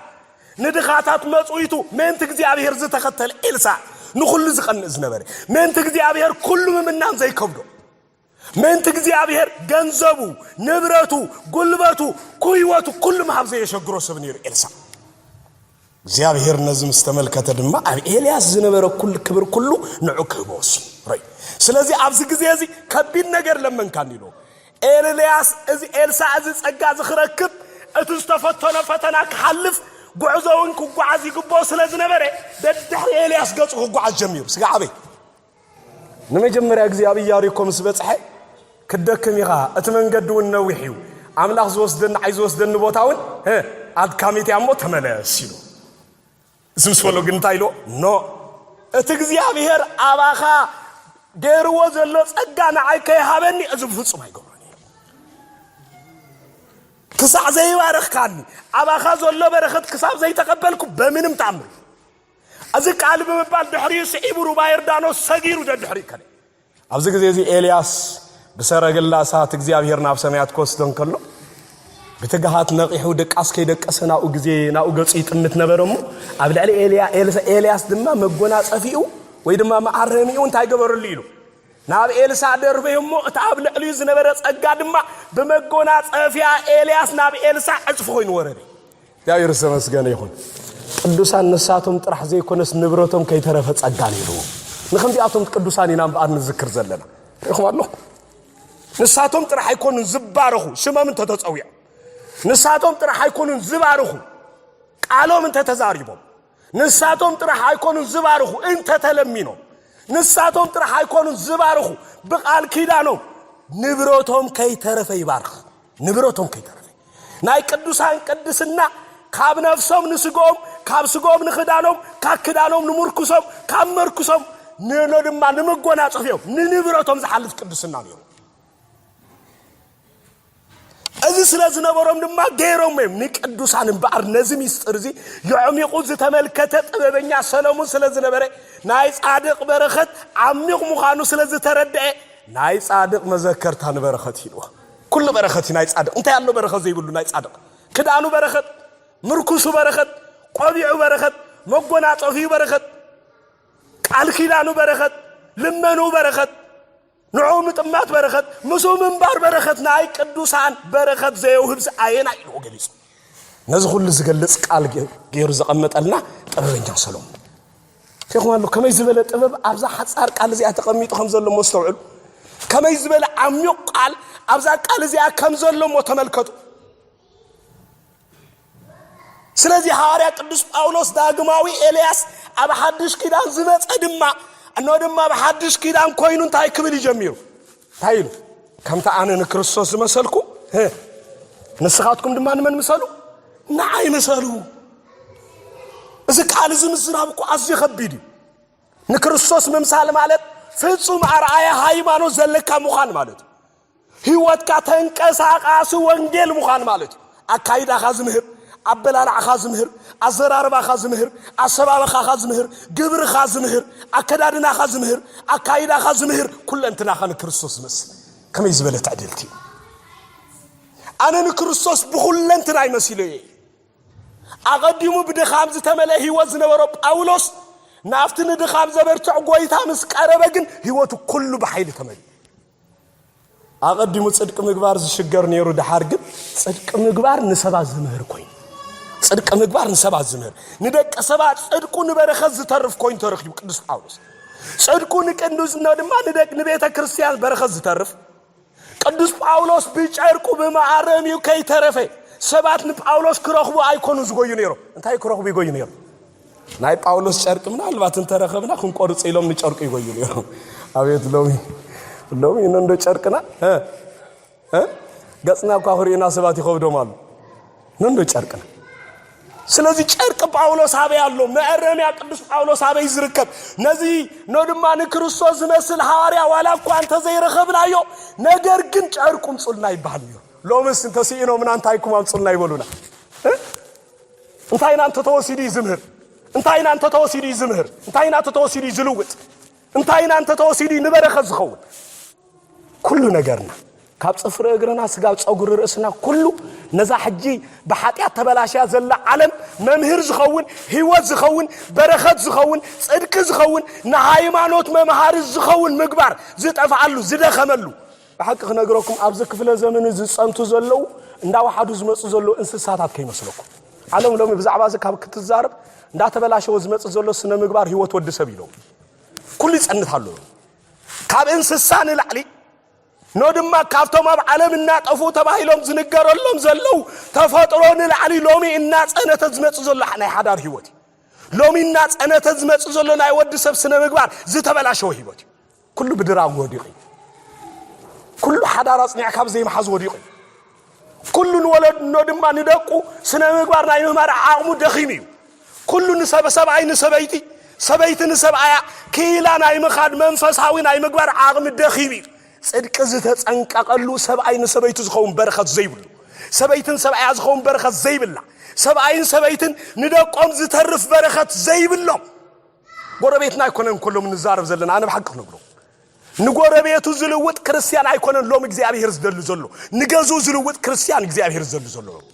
ንድኻታት መፅዊቱ ምእንቲ እግዚኣብሔር ዝተኸተለ ኤልሳ ንኹሉ ዝቐንእ ዝነበረ ምእንቲ እግዚኣብሔር ኩሉ ምምናን ዘይከብዶ ምእንቲ እግዚኣብሔር ገንዘቡ፣ ንብረቱ፣ ጉልበቱ፣ ኩይወቱ ኩሉ ምሃብ ዘየሸግሮ ሰብ ነይሩ ኤልሳእ። እግዚኣብሔር ነዚ ምስ ተመልከተ ድማ ኣብ ኤልያስ ዝነበረ ኩል ክብር ኩሉ ንዑ ክህቦ ወሲኑ ረይ ስለዚ ኣብዚ ግዜ እዚ ከቢድ ነገር ለመንካኒ ኢሉ ኤልያስ እዚ ኤልሳእ እዚ ጸጋ እዚ ክረክብ እቲ ዝተፈተኖ ፈተና ክሓልፍ ጉዕዞውን ክጓዓዝ ይግብኦ ስለ ዝነበረ ደድሕሪ ኤልያስ ገጹ ክጓዓዝ ጀሚሩ ስጋ ዓበይ ንመጀመርያ ግዜ ኣብ ኢያሪኮ ምስ በጽሐ ክትደክም ኢኻ፣ እቲ መንገዲ እውን ነዊሕ እዩ፣ ኣምላኽ ዝወስደኒ ዓይዝወስደኒ ቦታ እውን ኣድካሚት እያ እሞ ተመለስ ኢሉ እዚ ምስ በሎ ግን እንታይ ኢልዎ ኖ እቲ እግዚኣብሄር ኣባኻ ገይርዎ ዘሎ ጸጋ ንዓይ ከይሃበኒ እዚ ብፍጹም ኣይገብሮን እዩ ክሳዕ ዘይባረኽካኒ ኣባኻ ዘሎ በረኸት ክሳብ ዘይተቐበልኩ በምንም ተኣምር ኣዚ ቃል ብምባል ድሕሪኡ ስዒቡ ሩባ ዮርዳኖስ ሰጊሩ ደድሕሪኡ ከደ። ኣብዚ ግዜ እዚ ኤልያስ ብሰረገላ እሳት እግዚኣብሄር ናብ ሰማያት ክወስዶ እንከሎ ብትግሃት ነቒሑ ደቃስ ከይደቀሰ ናብኡ ግዜ ናብኡ ገጹ ይጥምት ነበረ እሞ ኣብ ልዕሊ ኤልያስ ድማ መጎናጸፊኡ ወይ ድማ መኣረሚኡ እንታይ ገበረሉ ኢሉ ናብ ኤልሳዕ ደርበዩ እሞ እቲ ኣብ ልዕሊኡ ዝነበረ ጸጋ ድማ ብመጎናጸፊያ ኤልያስ ናብ ኤልሳዕ ዕጽፊ ኮይኑ ወረደ እግዚኣብሔር ዝተመስገነ ይኹን ቅዱሳን ንሳቶም ጥራሕ ዘይኮነስ ንብረቶም ከይተረፈ ጸጋ ነይርዎ ንከምዚኣቶም ቅዱሳን ኢና እምበኣር ንዝክር ዘለና ርኢኹም ኣለኹ ንሳቶም ጥራሕ ኣይኮኑን ዝባረኹ ሽሞም እንተተፀዊዖም ንሳቶም ጥራሕ ኣይኮኑን ዝባርኹ ቃሎም እንተተዛሪቦም ንሳቶም ጥራሕ ኣይኮኑን ዝባርኹ እንተተለሚኖም ንሳቶም ጥራሕ ኣይኮኑን ዝባርኹ ብቃል ኪዳኖም ንብረቶም ከይተረፈ ይባርኽ ንብረቶም ከይተረፈ ናይ ቅዱሳን ቅድስና ካብ ነፍሶም ንስግኦም ካብ ስግኦም ንክዳኖም ካብ ክዳኖም ንምርኩሶም ካብ መርኩሶም ንሎ ድማ ንመጎናፀፊኦም ንንብረቶም ዝሓልፍ ቅድስና ነይሩ እዚ ስለ ዝነበሮም ድማ ገይሮም እዮም ንቅዱሳን እምበኣር ነዚ ሚስጥር እዚ የዕሚቑ ዝተመልከተ ጥበበኛ ሰለሙን ስለ ዝነበረ ናይ ጻድቕ በረኸት ዓሚቕ ምዃኑ ስለ ዝተረድአ ናይ ጻድቕ መዘከርታ ንበረኸት ሂልዎ ኩሉ በረኸት እዩ ናይ ጻድቕ እንታይ ኣሎ በረኸት ዘይብሉ ናይ ጻድቕ ክዳኑ በረኸት ምርኩሱ በረኸት ቆቢዑ በረኸት መጎናጸፊኡ በረኸት ቃል ኪዳኑ በረኸት ልመኑ በረኸት ንዑ ምጥማት በረኸት ምስኡ ምንባር በረኸት ናይ ቅዱሳን በረኸት ዘየውህብስ ኣየናይ ኢልዎ ገሊጹ ነዚ ኩሉ ዝገልጽ ቃል ገይሩ ዘቐመጠልና ጥበበኛ ሰሎሞን ሪኹም ኣሎ ከመይ ዝበለ ጥበብ ኣብዛ ሓፃር ቃል እዚኣ ተቐሚጡ ከም ዘሎ ሞ ስተውዕሉ ከመይ ዝበለ ዓሚቕ ቃል ኣብዛ ቃል እዚኣ ከም ዘሎ ሞ ተመልከቱ ስለዚ ሃዋርያ ቅዱስ ጳውሎስ ዳግማዊ ኤልያስ ኣብ ሓድሽ ኪዳን ዝመፀ ድማ እኖ ድማ ኣብ ሓድሽ ኪዳን ኮይኑ እንታይ ክብል እዩ ጀሚሩ እንታይ ኢሉ ከምቲ ኣነ ንክርስቶስ ዝመሰልኩ ንስኻትኩም ድማ ንመን ምሰሉ ንዓይ ምሰሉ እዚ ቃል እዚ ምዝራብ እኮ ኣዝዩ ከቢድ እዩ ንክርስቶስ ምምሳል ማለት ፍጹም ኣርኣያ ሃይማኖት ዘለካ ምዃን ማለት እዩ ህይወትካ ተንቀሳቓሲ ወንጌል ምዃን ማለት እዩ። ኣካይዳኻ ዝምህር፣ ኣበላልዓኻ ዝምህር፣ ኣዘራርባኻ ዝምህር፣ ኣሰባበኻኻ ዝምህር፣ ግብርኻ ዝምህር፣ ኣከዳድናኻ ዝምህር፣ ኣካይዳኻ ዝምህር፣ ኩለንትናኻ ንክርስቶስ ዝመስል ከመይ ዝበለ ትዕድልቲ እዩ። ኣነ ንክርስቶስ ብኹለንትናይ መሲለዮ እየ። ኣቐዲሙ ብድኻም ዝተመልአ ህይወት ዝነበሮ ጳውሎስ ናብቲ ንድኻም ዘበርትዕ ጐይታ ምስ ቀረበ ግን ህይወቱ ኩሉ ብሓይሊ ተመልኡ። ኣቐዲሙ ጽድቂ ምግባር ዝሽገር ነይሩ፣ ድሓር ግን ጽድቂ ምግባር ንሰባት ዝምህር ኮይኑ ጽድቂ ምግባር ንሰባት ዝምህር ንደቂ ሰባት ጽድቁ ንበረኸት ዝተርፍ ኮይኑ ተረኪቡ ቅዱስ ጳውሎስ ጽድቁ ንቅዱስና ድማ ንደቂ ንቤተ ክርስቲያን በረኸት ዝተርፍ ቅዱስ ጳውሎስ ብጨርቁ ብመኣረም እዩ ከይተረፈ ሰባት ንጳውሎስ ክረኽቡ ኣይኮኑ ዝጎዩ ነይሮም እንታይ ክረኽቡ ይጎዩ ነይሮም ናይ ጳውሎስ ጨርቂ ምናልባት እንተረኸብና ክንቆርፅ ኢሎም ንጨርቁ ይጎዩ ነይሩ ኣቤት ሎሚ ሎሚ እንዶ ጨርቅና ገፅና እኳ ክርእዩና ሰባት ይኸብዶም ኣሉ እንዶ ጨርቅና ስለዚ ጨርቂ ጳውሎስ ኣበይ ኣሎ መእረምያ ቅዱስ ጳውሎስ ኣበይ ዝርከብ ነዚ ኖ ድማ ንክርስቶስ ዝመስል ሃዋርያ ዋላ እኳ እንተዘይረኸብናዮ ነገር ግን ጨርቁ ምፁልና ይበሃል እዩ ሎምስ እንተስኢኖምና እንታይኩም ኣምፁልና ይበሉና እንታይ ኢና እንተተወሲዱ እዩ ዝምህር? እንታይ ኢና እንተተወሲዱ እዩ ዝምህር? እንታይ ኢና እንተተወሲዱ እዩ ዝልውጥ? እንታይ ኢና እንተተወሲዱ እዩ ንበረኸት ዝኸውን? ኩሉ ነገርና ካብ ፅፍሪ እግርና ስጋብ ፀጉሪ ርእስና ኩሉ ነዛ ሕጂ ብሓጢኣት ተበላሽያ ዘላ ዓለም መምህር ዝኸውን ህይወት ዝኸውን በረኸት ዝኸውን ፅድቂ ዝኸውን ንሃይማኖት መምሃሪ ዝኸውን ምግባር ዝጠፍኣሉ ዝደኸመሉ ብሓቂ ክነግረኩም ኣብዚ ክፍለ ዘመን እዚ ዝጸንቱ ዘለው እንዳወሓዱ ዝመጹ ዘለው እንስሳታት ከይመስለኩም ዓለም ሎሚ ብዛዕባ እዚ ካብ ክትዛረብ እንዳተበላሸወ ዝመጽእ ዘሎ ስነ ምግባር ህይወት ወዲ ሰብ ኢሎም ኩሉ ይጸንት ኣሎ ካብ እንስሳ ንላዕሊ ኖ ድማ ካብቶም ኣብ ዓለም እናጠፉ ተባሂሎም ዝንገረሎም ዘለው ተፈጥሮ ንላዕሊ ሎሚ እናጸነተ ዝመጽእ ዘሎ ናይ ሓዳር ህይወት እዩ ሎሚ እናጸነተ ዝመጽእ ዘሎ ናይ ወዲ ሰብ ስነ ምግባር ዝተበላሸወ ህይወት እዩ ኩሉ ብድራር ወዲቑ እዩ። ኩሉ ሓዳር ኣጽኒዕካ ብዘይ ምሓዝ ወዲቑ እዩ። ኩሉ ንወለድኖ ድማ ንደቁ ስነ ምግባር ናይ ምማር ዓቕሙ ደኺሙ እዩ። ኩሉ ንሰብ ሰብኣይ ንሰበይቲ ሰበይቲ ንሰብኣያ ክኢላ ናይ ምኻድ መንፈሳዊ ናይ ምግባር ዓቕሚ ደኺሙ እዩ። ጽድቂ ዝተጸንቀቐሉ ሰብኣይ ንሰበይቱ ዝኸውን በረኸት ዘይብሉ ሰበይትን ሰብኣያ ዝኸውን በረኸት ዘይብላ ሰብኣይን ሰበይትን ንደቆም ዝተርፍ በረኸት ዘይብሎም ጎረቤትና ኣይኮነን እኮ ሎሚ ንዛረብ ዘለና ኣነ ብሓቂ ክነግሮ ንጎረቤቱ ዝልውጥ ክርስትያን ኣይኮነን ሎሚ እግዚኣብሄር ዝደሊ ዘሎ ንገዝኡ ዝልውጥ ክርስትያን እግዚኣብሄር ዝደሊ ዘሎ ሎሚ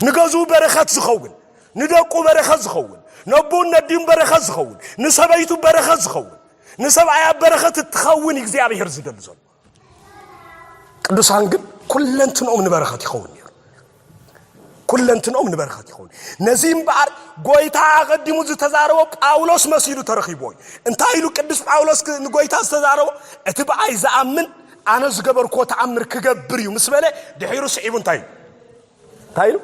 ንገዝኡ በረኸት ዝኸውን ንደቁ በረኸት ዝኸውን ነቦን ነዲን በረኸት ዝኸውን ንሰበይቱ በረኸት ዝኸውን ንሰብኣያ በረኸት እትኸውን እግዚኣብሄር ዝደሊ ዘሎ ቅዱሳን ግን ኩለንትንኦም ንበረኸት ይኸውን ነይሩ ኩለንትንኦም ንበረኸት ይኸውን ነዚ እምበኣር ጎይታ ኣቐዲሙ ዝተዛረቦ ጳውሎስ መሲሉ ተረኺቦ እዩ እንታይ ኢሉ ቅዱስ ጳውሎስ ንጎይታ ዝተዛረቦ እቲ ብኣይ ዝኣምን ኣነ ዝገበርክዎ ተኣምር ክገብር እዩ ምስ በለ ድሒሩ ስዒቡ እንታይ እዩ እንታይ ኢሉ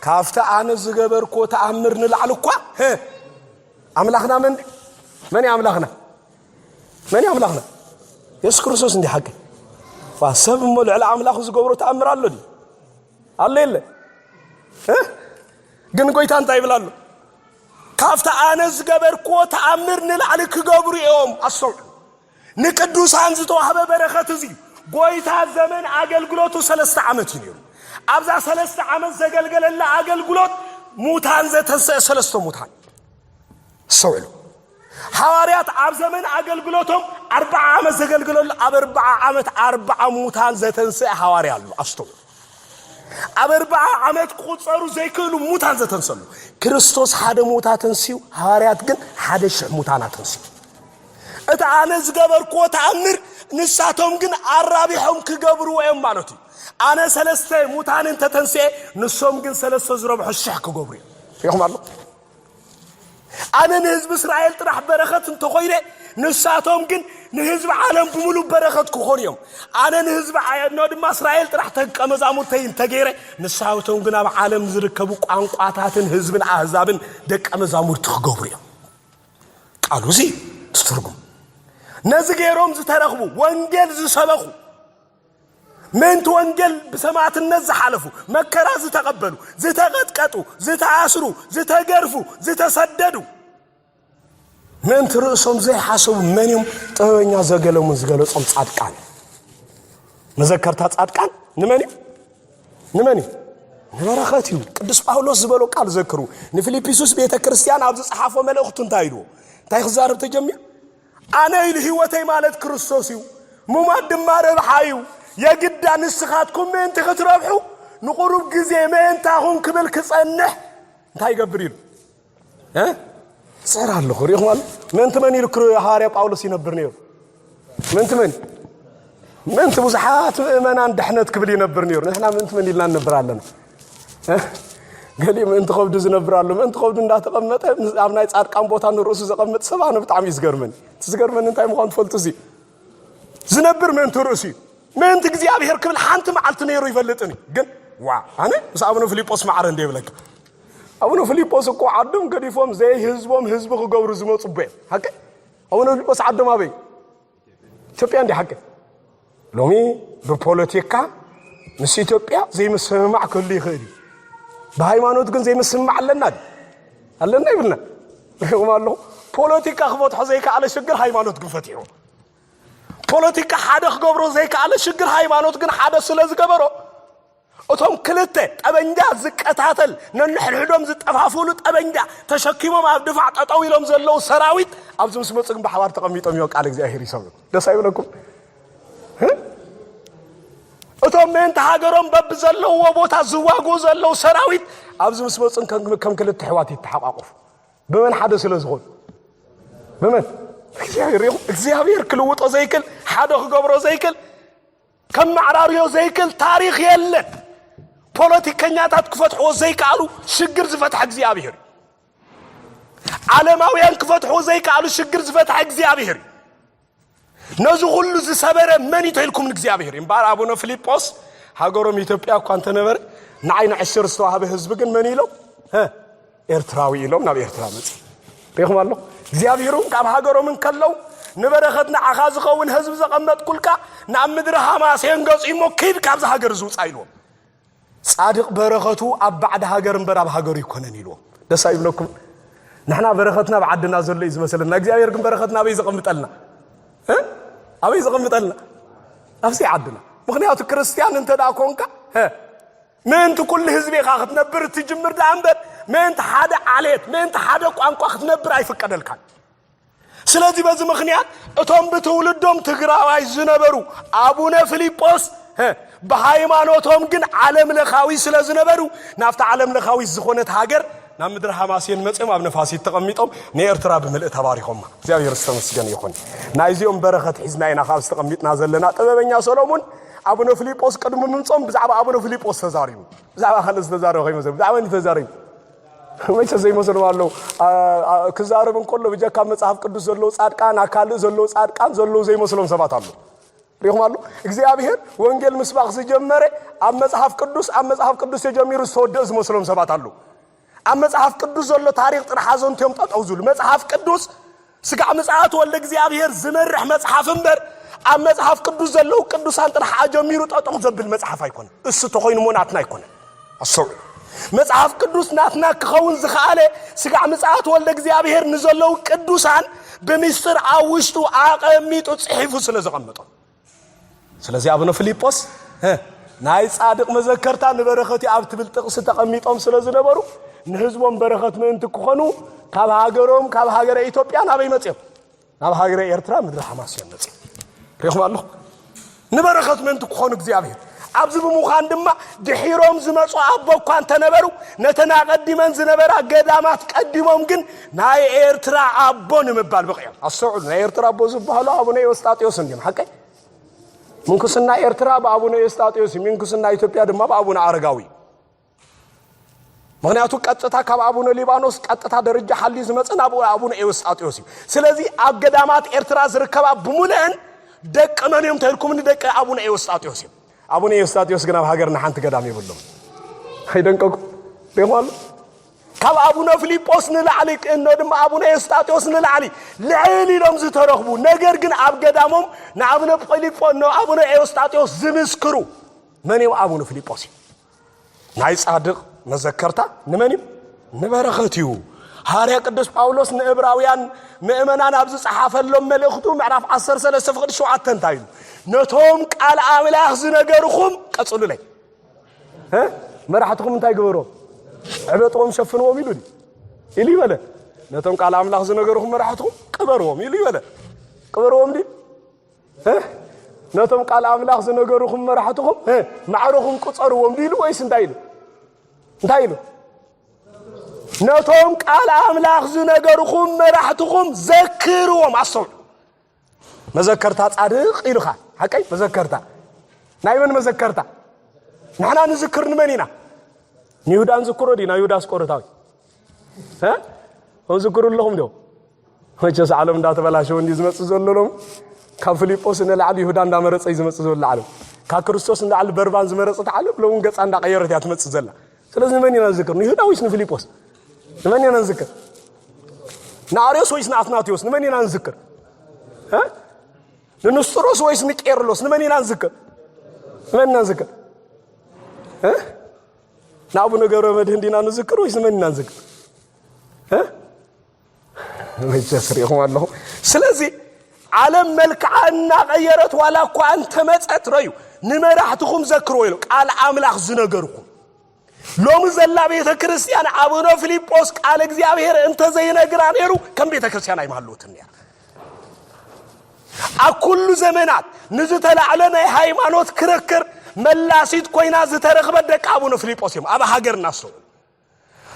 ካብቲ ኣነ ዝገበርክዎ ተኣምር ንላዕሊ እኳ ኣምላኽና መን መን እዩ ኣምላኽና መን እዩ ኣምላኽና? የሱስ ክርስቶስ እንዲ ሓቂ ዋ ሰብ እሞ ልዕሊ ኣምላኹ ዝገብሮ ተኣምር ኣሎ ድዩ ኣሎ የለ ግን ጎይታ እንታይ ይብል ኣሎ ካብቲ ኣነ ዝገበርክዎ ተኣምር ንላዕሊ ክገብሩ እዮም ኣስተውዕሉ ንቅዱሳን ዝተዋህበ በረኸት እዚ ጎይታ ዘመን ኣገልግሎቱ ሰለስተ ዓመት እዩ ነይሩ ኣብዛ ሰለስተ ዓመት ዘገልገለላ ኣገልግሎት ሙታን ዘተንስአ ሰለስተ ሙታን ኣስተውዕሉ ሓዋርያት ኣብ ዘመን ኣገልግሎቶም ኣርብዓ ዓመት ዘገልግለሉ ኣብ ኣርብዓ ዓመት ኣርብዓ ሙታን ዘተንስአ ሓዋርያ ኣሎ ኣስተውሉ ኣብ ኣርብዓ ዓመት ክቁፀሩ ዘይክእሉ ሙታን ዘተንሰሉ ክርስቶስ ሓደ ሙታ ኣተንስዩ ሃዋርያት ግን ሓደ ሽሕ ሙታን ኣተንስዩ እቲ ኣነ ዝገበርክዎ ተኣምር ንሳቶም ግን ኣራቢሖም ክገብርዎ እዮም ማለት እዩ ኣነ ሰለስተ ሙታን እንተተንስኤ ንሶም ግን ሰለስተ ዝረብሑ ሽሕ ክገብሩ እዮም ይኹም ኣሎ ኣነ ንህዝቢ እስራኤል ጥራሕ በረኸት እንተኾይነ ንሳቶም ግን ንህዝቢ ዓለም ብምሉእ በረኸት ክኾኑ እዮም ኣነ ንህዝቢ ኖ ድማ እስራኤል ጥራሕ ተቀ መዛሙርተይ እንተገይረ ንሳቶም ግን ኣብ ዓለም ዝርከቡ ቋንቋታትን ህዝብን ኣህዛብን ደቀ መዛሙርቲ ክገብሩ እዮም ቃሉ እዚ ትትርጉም ነዚ ገይሮም ዝተረኽቡ ወንጌል ዝሰበኹ ምእንቲ ወንጌል ብሰማእትነት ዝሓለፉ፣ መከራ ዝተቐበሉ፣ ዝተቐጥቀጡ፣ ዝተኣስሩ፣ ዝተገርፉ፣ ዝተሰደዱ፣ ምእንቲ ርእሶም ዘይሓሰቡ መን እዮም? ጥበበኛ ዘገለሙን ዝገለጾም ጻድቃን። መዘከርታ ጻድቃን ንመን እዩ? ንመን እዩ? ንበረኸት እዩ። ቅዱስ ጳውሎስ ዝበሎ ቃል ዘክሩ። ንፊልጵስዩስ ቤተ ክርስቲያን ኣብ ዝጸሓፎ መልእኽቱ እንታይ ኢልዎ? እንታይ ክዛረብ ተጀሚሩ? ኣነ ኢሉ ህይወተይ ማለት ክርስቶስ እዩ፣ ምሟት ድማ ረብሓ እዩ። የግዳ ንስኻትኩም ምእንቲ ክትረብሑ ንቑሩብ ግዜ መእንታኹም ክብል ክጸንሕ እንታይ ይገብር ኢሉ ጽዕር ኣለኹ። ሪኢኹም ኣሎ ምእንቲ መን ኢሉ ሃዋርያ ጳውሎስ ይነብር ነይሩ? ምእንቲ መን? ምእንቲ ብዙሓት ምእመናን ድሕነት ክብል ይነብር ነይሩ። ንሕና ምእንቲ መን ኢልና ንነብር ኣለና? ገሊኡ ምእንቲ ከብዱ ዝነብር ኣሎ። ምእንቲ ከብዱ እንዳተቐመጠ ኣብ ናይ ጻድቃን ቦታ ንርእሱ ዘቐምጥ ሰብ ኣነ ብጣዕሚ እዩ ዝገርመኒ። እቲ ዝገርመኒ እንታይ ምዃኑ ትፈልጡ እዙ ዝነብር ምእንቲ ርእሱ እዩ። ምእንቲ እግዚኣብሔር ክብል ሓንቲ መዓልቲ ነይሩ ይፈልጥን እዩ። ግን ዋ ኣነ ምስ ኣቡነ ፊልጶስ ማዕረ እንደ ይብለካ ኣቡነ ፊልጶስ እኮ ዓዶም ገዲፎም ዘይህዝቦም ህዝቢ ክገብሩ ዝመፁ ቦ እዮም። ሃቀ ኣቡነ ፊልጶስ ዓዶም ኣበይ ኢትዮጵያ እንዲ ሓቂ ሎሚ ብፖለቲካ ምስ ኢትዮጵያ ዘይምስምማዕ ክህሉ ይኽእል እዩ ብሃይማኖት ግን ዘይምስምማዕ ኣለና ኣለና ይብልና ሪኹም ኣለኹ ፖለቲካ ክፈትሖ ዘይከኣለ ሽግር ሃይማኖት ግን ፈትሑ ፖለቲካ ሓደ ክገብሮ ዘይከኣለ ሽግር ሃይማኖት ግን ሓደ ስለ ዝገበሮ እቶም ክልተ ጠበንጃ ዝቀታተል ነንሕድሕዶም ዝጠፋፍእሉ ጠበንጃ ተሸኪሞም ኣብ ድፋዕ ጠጠው ኢሎም ዘለዉ ሰራዊት ኣብዚ ምስ መፁ ግን ብሓባር ተቐሚጦም እዮም ቃል እግዚኣብሄር ይሰምዑ ደስ ኣይብለኩም እቶም ምእንቲ ሃገሮም በብዘለውዎ ቦታ ዝዋግኡ ዘለዉ ሰራዊት ኣብዚ ምስ መፁን ከም ክልተ ኣሕዋት ይተሓቋቑፉ ብመን ሓደ ስለ ዝኾኑ ብመን እግዚኣብሔር ይኹም እግዚኣብሔር ክልውጦ ዘይክል ሓደ ክገብሮ ዘይክል ከመዓራርዮ ዘይክእል ታሪኽ የለን። ፖለቲከኛታት ክፈትሕዎ ዘይከኣሉ ሽግር ዝፈትሐ እግዚኣብሄር እዩ። ዓለማውያን ክፈትሕዎ ዘይከኣሉ ሽግር ዝፈትሐ እግዚኣብሄር እዩ። ነዚ ኩሉ ዝሰበረ መን እዩ ተኢልኩም ንእግዚኣብሔር እዩ እምበኣር ኣቡነ ፊልጶስ ሃገሮም ኢትዮጵያ እኳ እንተነበረ ንዓይ ንዕሽር ዝተዋህበ ህዝቢ ግን መን ኢሎም ኤርትራዊ ኢሎም ናብ ኤርትራ መጽ ሪኹም ኣሎ እግዚኣብሄር እውን ካብ ሃገሮም እንከለው ንበረኸት ንዓኻ ዝኸውን ህዝቢ ዘቐመጥኩልካ ናብ ምድሪ ሃማሴን ገጹ እሞ ክድ ካብዚ ሃገር እዚ ውፃእ ኢልዎም ጻድቕ በረኸቱ ኣብ ባዕዲ ሃገር እምበር ኣብ ሃገሩ ይኮነን ኢልዎም ደስ ኣይብለኩም ንሕና በረኸትና ኣብ ዓድና ዘሎ እዩ ዝመሰለና እግዚኣብሄር ግን በረኸትና ኣበይ ዘቐምጠልና ኣበይ ዘቐምጠልና ኣብዘይ ዓድና ምክንያቱ ክርስትያን እንተ ደኣ ኮንካ ምእንቲ ኩሉ ህዝቢ ኢኻ ክትነብር እትጅምር ደኣ እምበር ምእንቲ ሓደ ዓሌት ምእንቲ ሓደ ቋንቋ ክትነብር ኣይፍቀደልካን። ስለዚ በዚ ምክንያት እቶም ብትውልዶም ትግራዋይ ዝነበሩ ኣቡነ ፊልጶስ ብሃይማኖቶም ግን ዓለም ለኻዊ ስለ ዝነበሩ ናብቲ ዓለም ለኻዊት ዝኾነት ሃገር ናብ ምድሪ ሃማሴን መፅኦም ኣብ ነፋሲት ተቐሚጦም ንኤርትራ ብምልእ ተባሪኾማ እግዚኣብሔር ዝተመስገን ይኹን ናይዚኦም በረኸት ሒዝና ኢና ካብ ዝተቐሚጥና ዘለና ጥበበኛ ሰሎሙን ኣቡነ ፍሊጶስ ቅድሚ ምምጾም ብዛዕባ ኣቡነ ፍሊጶስ ተዛሪቡ ብዛዕባ ካልእ ዝተዛረበ ከይመሰል ብዛዕባ ን ተዛሪቡ መቸ ዘይመስሎም ኣለዉ ክዛረብ እንከሎ ብጀካ መጽሓፍ ቅዱስ ዘለዉ ጻድቃን ኣካልእ ዘለዉ ጻድቃን ዘለዉ ዘይመስሎም ሰባት ኣለዉ ሪኹም ኣሎ እግዚኣብሄር ወንጌል ምስባኽ ዝጀመረ ኣብ መጽሓፍ ቅዱስ ኣብ መጽሓፍ ቅዱስ ተጀሚሩ ዝተወደእ ዝመስሎም ሰባት ኣለዉ ኣብ መጽሓፍ ቅዱስ ዘሎ ታሪኽ ጥራሕ ኣዘንቱ እዮም ጠጠው ዝብሉ። መጽሓፍ ቅዱስ ስጋዕ ምጽኣት ወልደ እግዚኣብሔር ዝመርሕ መጽሓፍ እምበር ኣብ መጽሓፍ ቅዱስ ዘለዉ ቅዱሳን ጥራሕ ኣጀሚሩ ጠጠው ዘብል መጽሓፍ ኣይኮነ እሱ ተኾይኑ እሞ ናትና ኣይኮነ ኣሰውዑ መጽሓፍ ቅዱስ ናትና ክኸውን ዝኸኣለ ስጋዕ ምጽኣት ወልደ እግዚኣብሔር ንዘለዉ ቅዱሳን ብምስጢር ኣብ ውሽጡ ኣቐሚጡ ጽሒፉ ስለ ዘቐመጦም ስለዚ ኣቡነ ፊልጶስ ናይ ጻድቕ መዘከርታ ንበረኸትዩ ኣብ ትብል ጥቕሲ ተቐሚጦም ስለ ዝነበሩ ንህዝቦም በረኸት ምእንቲ ክኾኑ ካብ ሃገሮም ካብ ሃገረ ኢትዮጵያ ናበይ መፅኦም ናብ ሃገረ ኤርትራ ምድሪ ሓማስዮም መፅኦም ሪኹም ኣለኹ ንበረኸት ምእንቲ ክኾኑ እግዚኣብሔር ኣብዚ ብምዃን ድማ ድሒሮም ዝመጹ ኣቦ እኳ እንተነበሩ ነተን ኣቐዲመን ዝነበራ ገዳማት ቀዲሞም ግን ናይ ኤርትራ ኣቦ ንምባል በቒዖም። ኣስተውዕሉ፣ ናይ ኤርትራ ኣቦ ዝበሃሉ ኣቡነ ኤዎስጣቴዎስ እንዲዮም። ሓቀይ ምንኩስና ኤርትራ ብኣቡነ ኤዎስጣቴዎስ እዩ፣ ምንኩስና ኢትዮጵያ ድማ ብኣቡነ ኣረጋዊ እዩ። ምክንያቱ ቀጥታ ካብ ኣቡነ ሊባኖስ ቀጥታ ደረጃ ሓልዩ ዝመፀ ናብ ኣቡነ ኤዎስጣቴዎስ እዩ ስለዚ ኣብ ገዳማት ኤርትራ ዝርከባ ብሙልአን ደቂ መን እዮም ተልኩምኒ ደቂ ኣቡነ ኤዎስጣቴዎስ እዮም ኣቡነ ኤዎስጣቴዎስ ግን ኣብ ሃገርና ሓንቲ ገዳም የብሎም ኣይደንቀኩ ሪኹ ኣሎ ካብ ኣቡነ ፊልጶስ ንላዕሊ እኖ ድማ ኣቡነ ኤዎስጣቴዎስ ንላዕሊ ልዕል ኢሎም ዝተረኽቡ ነገር ግን ኣብ ገዳሞም ንኣብነ ፊልጶ ንኣብነ ኤዎስጣቴዎስ ዝምስክሩ መን እዮም ኣቡነ ፊልጶስ እዩ ናይ ጻድቕ መዘከርታ ንመን እዩ? ንበረኸት እዩ። ሃርያ ቅዱስ ጳውሎስ ንእብራውያን ምእመናን ኣብ ዝጸሓፈሎም መልእኽቱ ምዕራፍ 13 ፍቕዲ 7 እንታይ ኢሉ ነቶም ቃል ኣምላኽ ዝነገርኹም ቀጽሉለይ መራሕትኹም እንታይ ግበሮም ዕበጥዎም ሸፍንዎም ኢሉ ኢሉ ይበለ ነቶም ቃል ኣምላኽ ዝነገርኹም መራሕትኹም ቅበርዎም ኢሉ ይበለ ቅበርዎም ድዩ ነቶም ቃል ኣምላኽ ዝነገሩኹም መራሕትኹም ማዕረኹም ቁፀርዎም ኢሉ ወይስ እንታይ ኢሉ እንታይ ኢሉ ነቶም ቃል ኣምላኽ ዝነገሩኹም መራሕትኹም ዘክርዎም ኣስተውዕ መዘከርታ ጻድቕ ኢሉኻ ሓቀይ መዘከርታ ናይ መን መዘከርታ ንሕና ንዝክር ንመን ኢና ንይሁዳ ንዝክሮ ዲና ይሁዳስ ቆረታዊ ዝክሩ ኣለኹም ዶ መቸስ ዓለም እንዳተበላሸወ እንዲዩ ዝመጽእ ዘሎ ሎም ካብ ፊልጶስ ንላዕሊ ይሁዳ እንዳመረጸ እዩ ዝመጽእ ዘሎ ዓለም ካብ ክርስቶስ ንላዕሊ በርባን ዝመረጸት ዓለም ሎውን ገጻ እንዳቀየረት እያ ትመጽእ ዘላ ስለዚ ንመን ኢና ንዝክር ንይሁዳ ወይስ ንፊልጶስ ንመን ኢና ንዝክር ንኣርዮስ ወይስ ንኣትናቴዎስ ንመን ኢና ንዝክር ንንስጥሮስ ወይስ ንቄርሎስ ንመን ኢና ንዝክር ንመን ኢና ንዝክር ንኣቡነ ገብረ መድህን ዲና ንዝክር ወይስ ንመን ኢና ንዝክር መቸስ ሪኢኹም ኣለኹም። ስለዚ ዓለም መልክዓ እናቐየረት ዋላ እኳ እንተመፀት ረዩ ንመራሕትኹም ዘክርዎ ኢሉ ቃል ኣምላኽ ዝነገርኩም ሎሚ ዘላ ቤተ ክርስቲያን ኣቡነ ፊልጶስ ቃል እግዚኣብሔር እንተዘይነግራ ነይሩ ከም ቤተ ክርስቲያን ኣይማሃለወትን ነይራ ኣብ ኩሉ ዘመናት ንዝተላዕለ ናይ ሃይማኖት ክርክር መላሲት ኮይና ዝተረኽበት ደቂ ኣቡነ ፊልጶስ እዮም ኣብ ሃገርና ሰው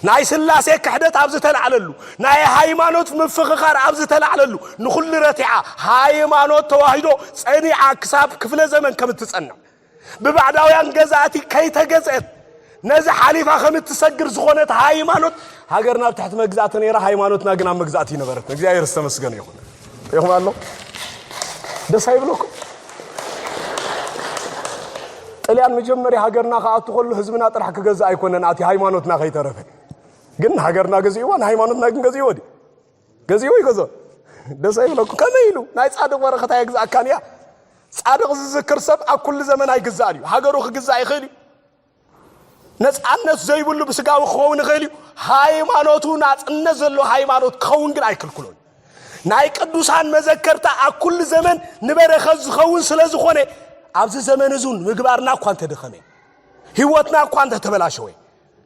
ናይ ስላሴ ክሕደት ኣብ ዝተላዕለሉ፣ ናይ ሃይማኖት ምፍኽኻር ኣብ ዝተላዕለሉ፣ ንኹሉ ረቲዓ ሃይማኖት ተዋሂዶ ጸኒዓ ክሳብ ክፍለ ዘመን ከም እትጸንዕ፣ ብባዕዳውያን ገዛእቲ ከይተገዝእት ነዚ ሓሊፋ ከም እትሰግር ዝኾነት ሃይማኖት፣ ሃገርና ኣብ ትሕቲ መግዛእቲ ነይራ፣ ሃይማኖትና ግን ኣብ መግዛእቲ ኣይነበረትን። እግዚኣብሔር ዝተመስገነ ይኹን። ሪኢኹም ኣሎ ደስ ኣይብለኩም ጥልያን መጀመርያ ሃገርና ክኣቱ ከሎ ህዝብና ጥራሕ ክገዛእ ኣይኮነን ኣቲ ሃይማኖትና ከይተረፈ ግን ሃገርና ገዚእዋ ንሃይማኖትና ግን ገዚእዎ ዲ ገዚእዎ ይገዞ ደስ ኣይብለኩ ከመይ ኢሉ ናይ ፃድቕ ወረኸት ኣየግዛእካን እያ ፃድቕ ዝዝክር ሰብ ኣብ ኩሉ ዘመን ኣይግዛእን እዩ ሃገሩ ክግዛእ ይኽእል እዩ ነፃነት ዘይብሉ ብስጋዊ ክኸውን ይኽእል እዩ ሃይማኖቱ ናፅነት ዘለዎ ሃይማኖት ክኸውን ግን ኣይክልክሎን ናይ ቅዱሳን መዘከርታ ኣብ ኩሉ ዘመን ንበረኸት ዝኸውን ስለ ዝኾነ ኣብዚ ዘመን እዙን ምግባርና እኳ እንተደኸመ ህይወትና እኳ እንተተበላሸወ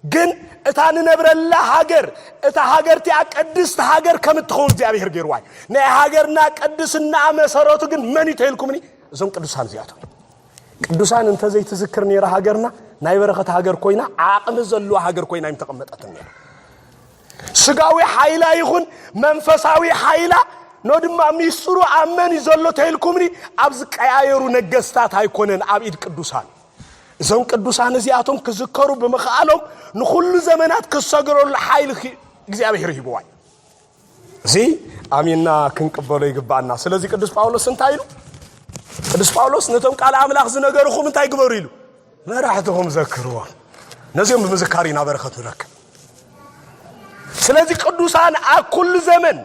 ግን እታ ንነብረላ ሃገር እታ ሃገር እቲኣ ቅድስቲ ሃገር ከም እትኸውን እግዚኣብሄር ገይርዋ እዩ ናይ ሃገርና ቅድስና መሰረቱ ግን መን እዩ ተይልኩምኒ እዞም ቅዱሳን እዚኣቶም ቅዱሳን እንተዘይትዝክር ነይራ ሃገርና ናይ በረኸት ሃገር ኮይና ዓቕሚ ዘለዋ ሃገር ኮይና ይምተቐመጠትን ነይራ ስጋዊ ሓይላ ይኹን መንፈሳዊ ሓይላ ኖ ድማ ሚስጥሩ ኣብ መን እዩ ዘሎ ተይልኩምኒ ኣብ ዝቀያየሩ ነገስታት ኣይኮነን ኣብ ኢድ ቅዱሳን እዞም ቅዱሳን እዚኣቶም ክዝከሩ ብምኽኣሎም ንኹሉ ዘመናት ክሰግረሉ ሓይሊ እግዚኣብሔር ሂብዋ እዩ እዚ ኣሚንና ክንቅበሎ ይግባኣና ስለዚ ቅዱስ ጳውሎስ እንታይ ኢሉ ቅዱስ ጳውሎስ ነቶም ቃል ኣምላኽ ዝነገርኹም እንታይ ግበሩ ኢሉ መራሕትኹም ዘክርዎም ነዚኦም ብምዝካር ኢና በረኸት ንረክብ ስለዚ ቅዱሳን ኣብ ኩሉ ዘመን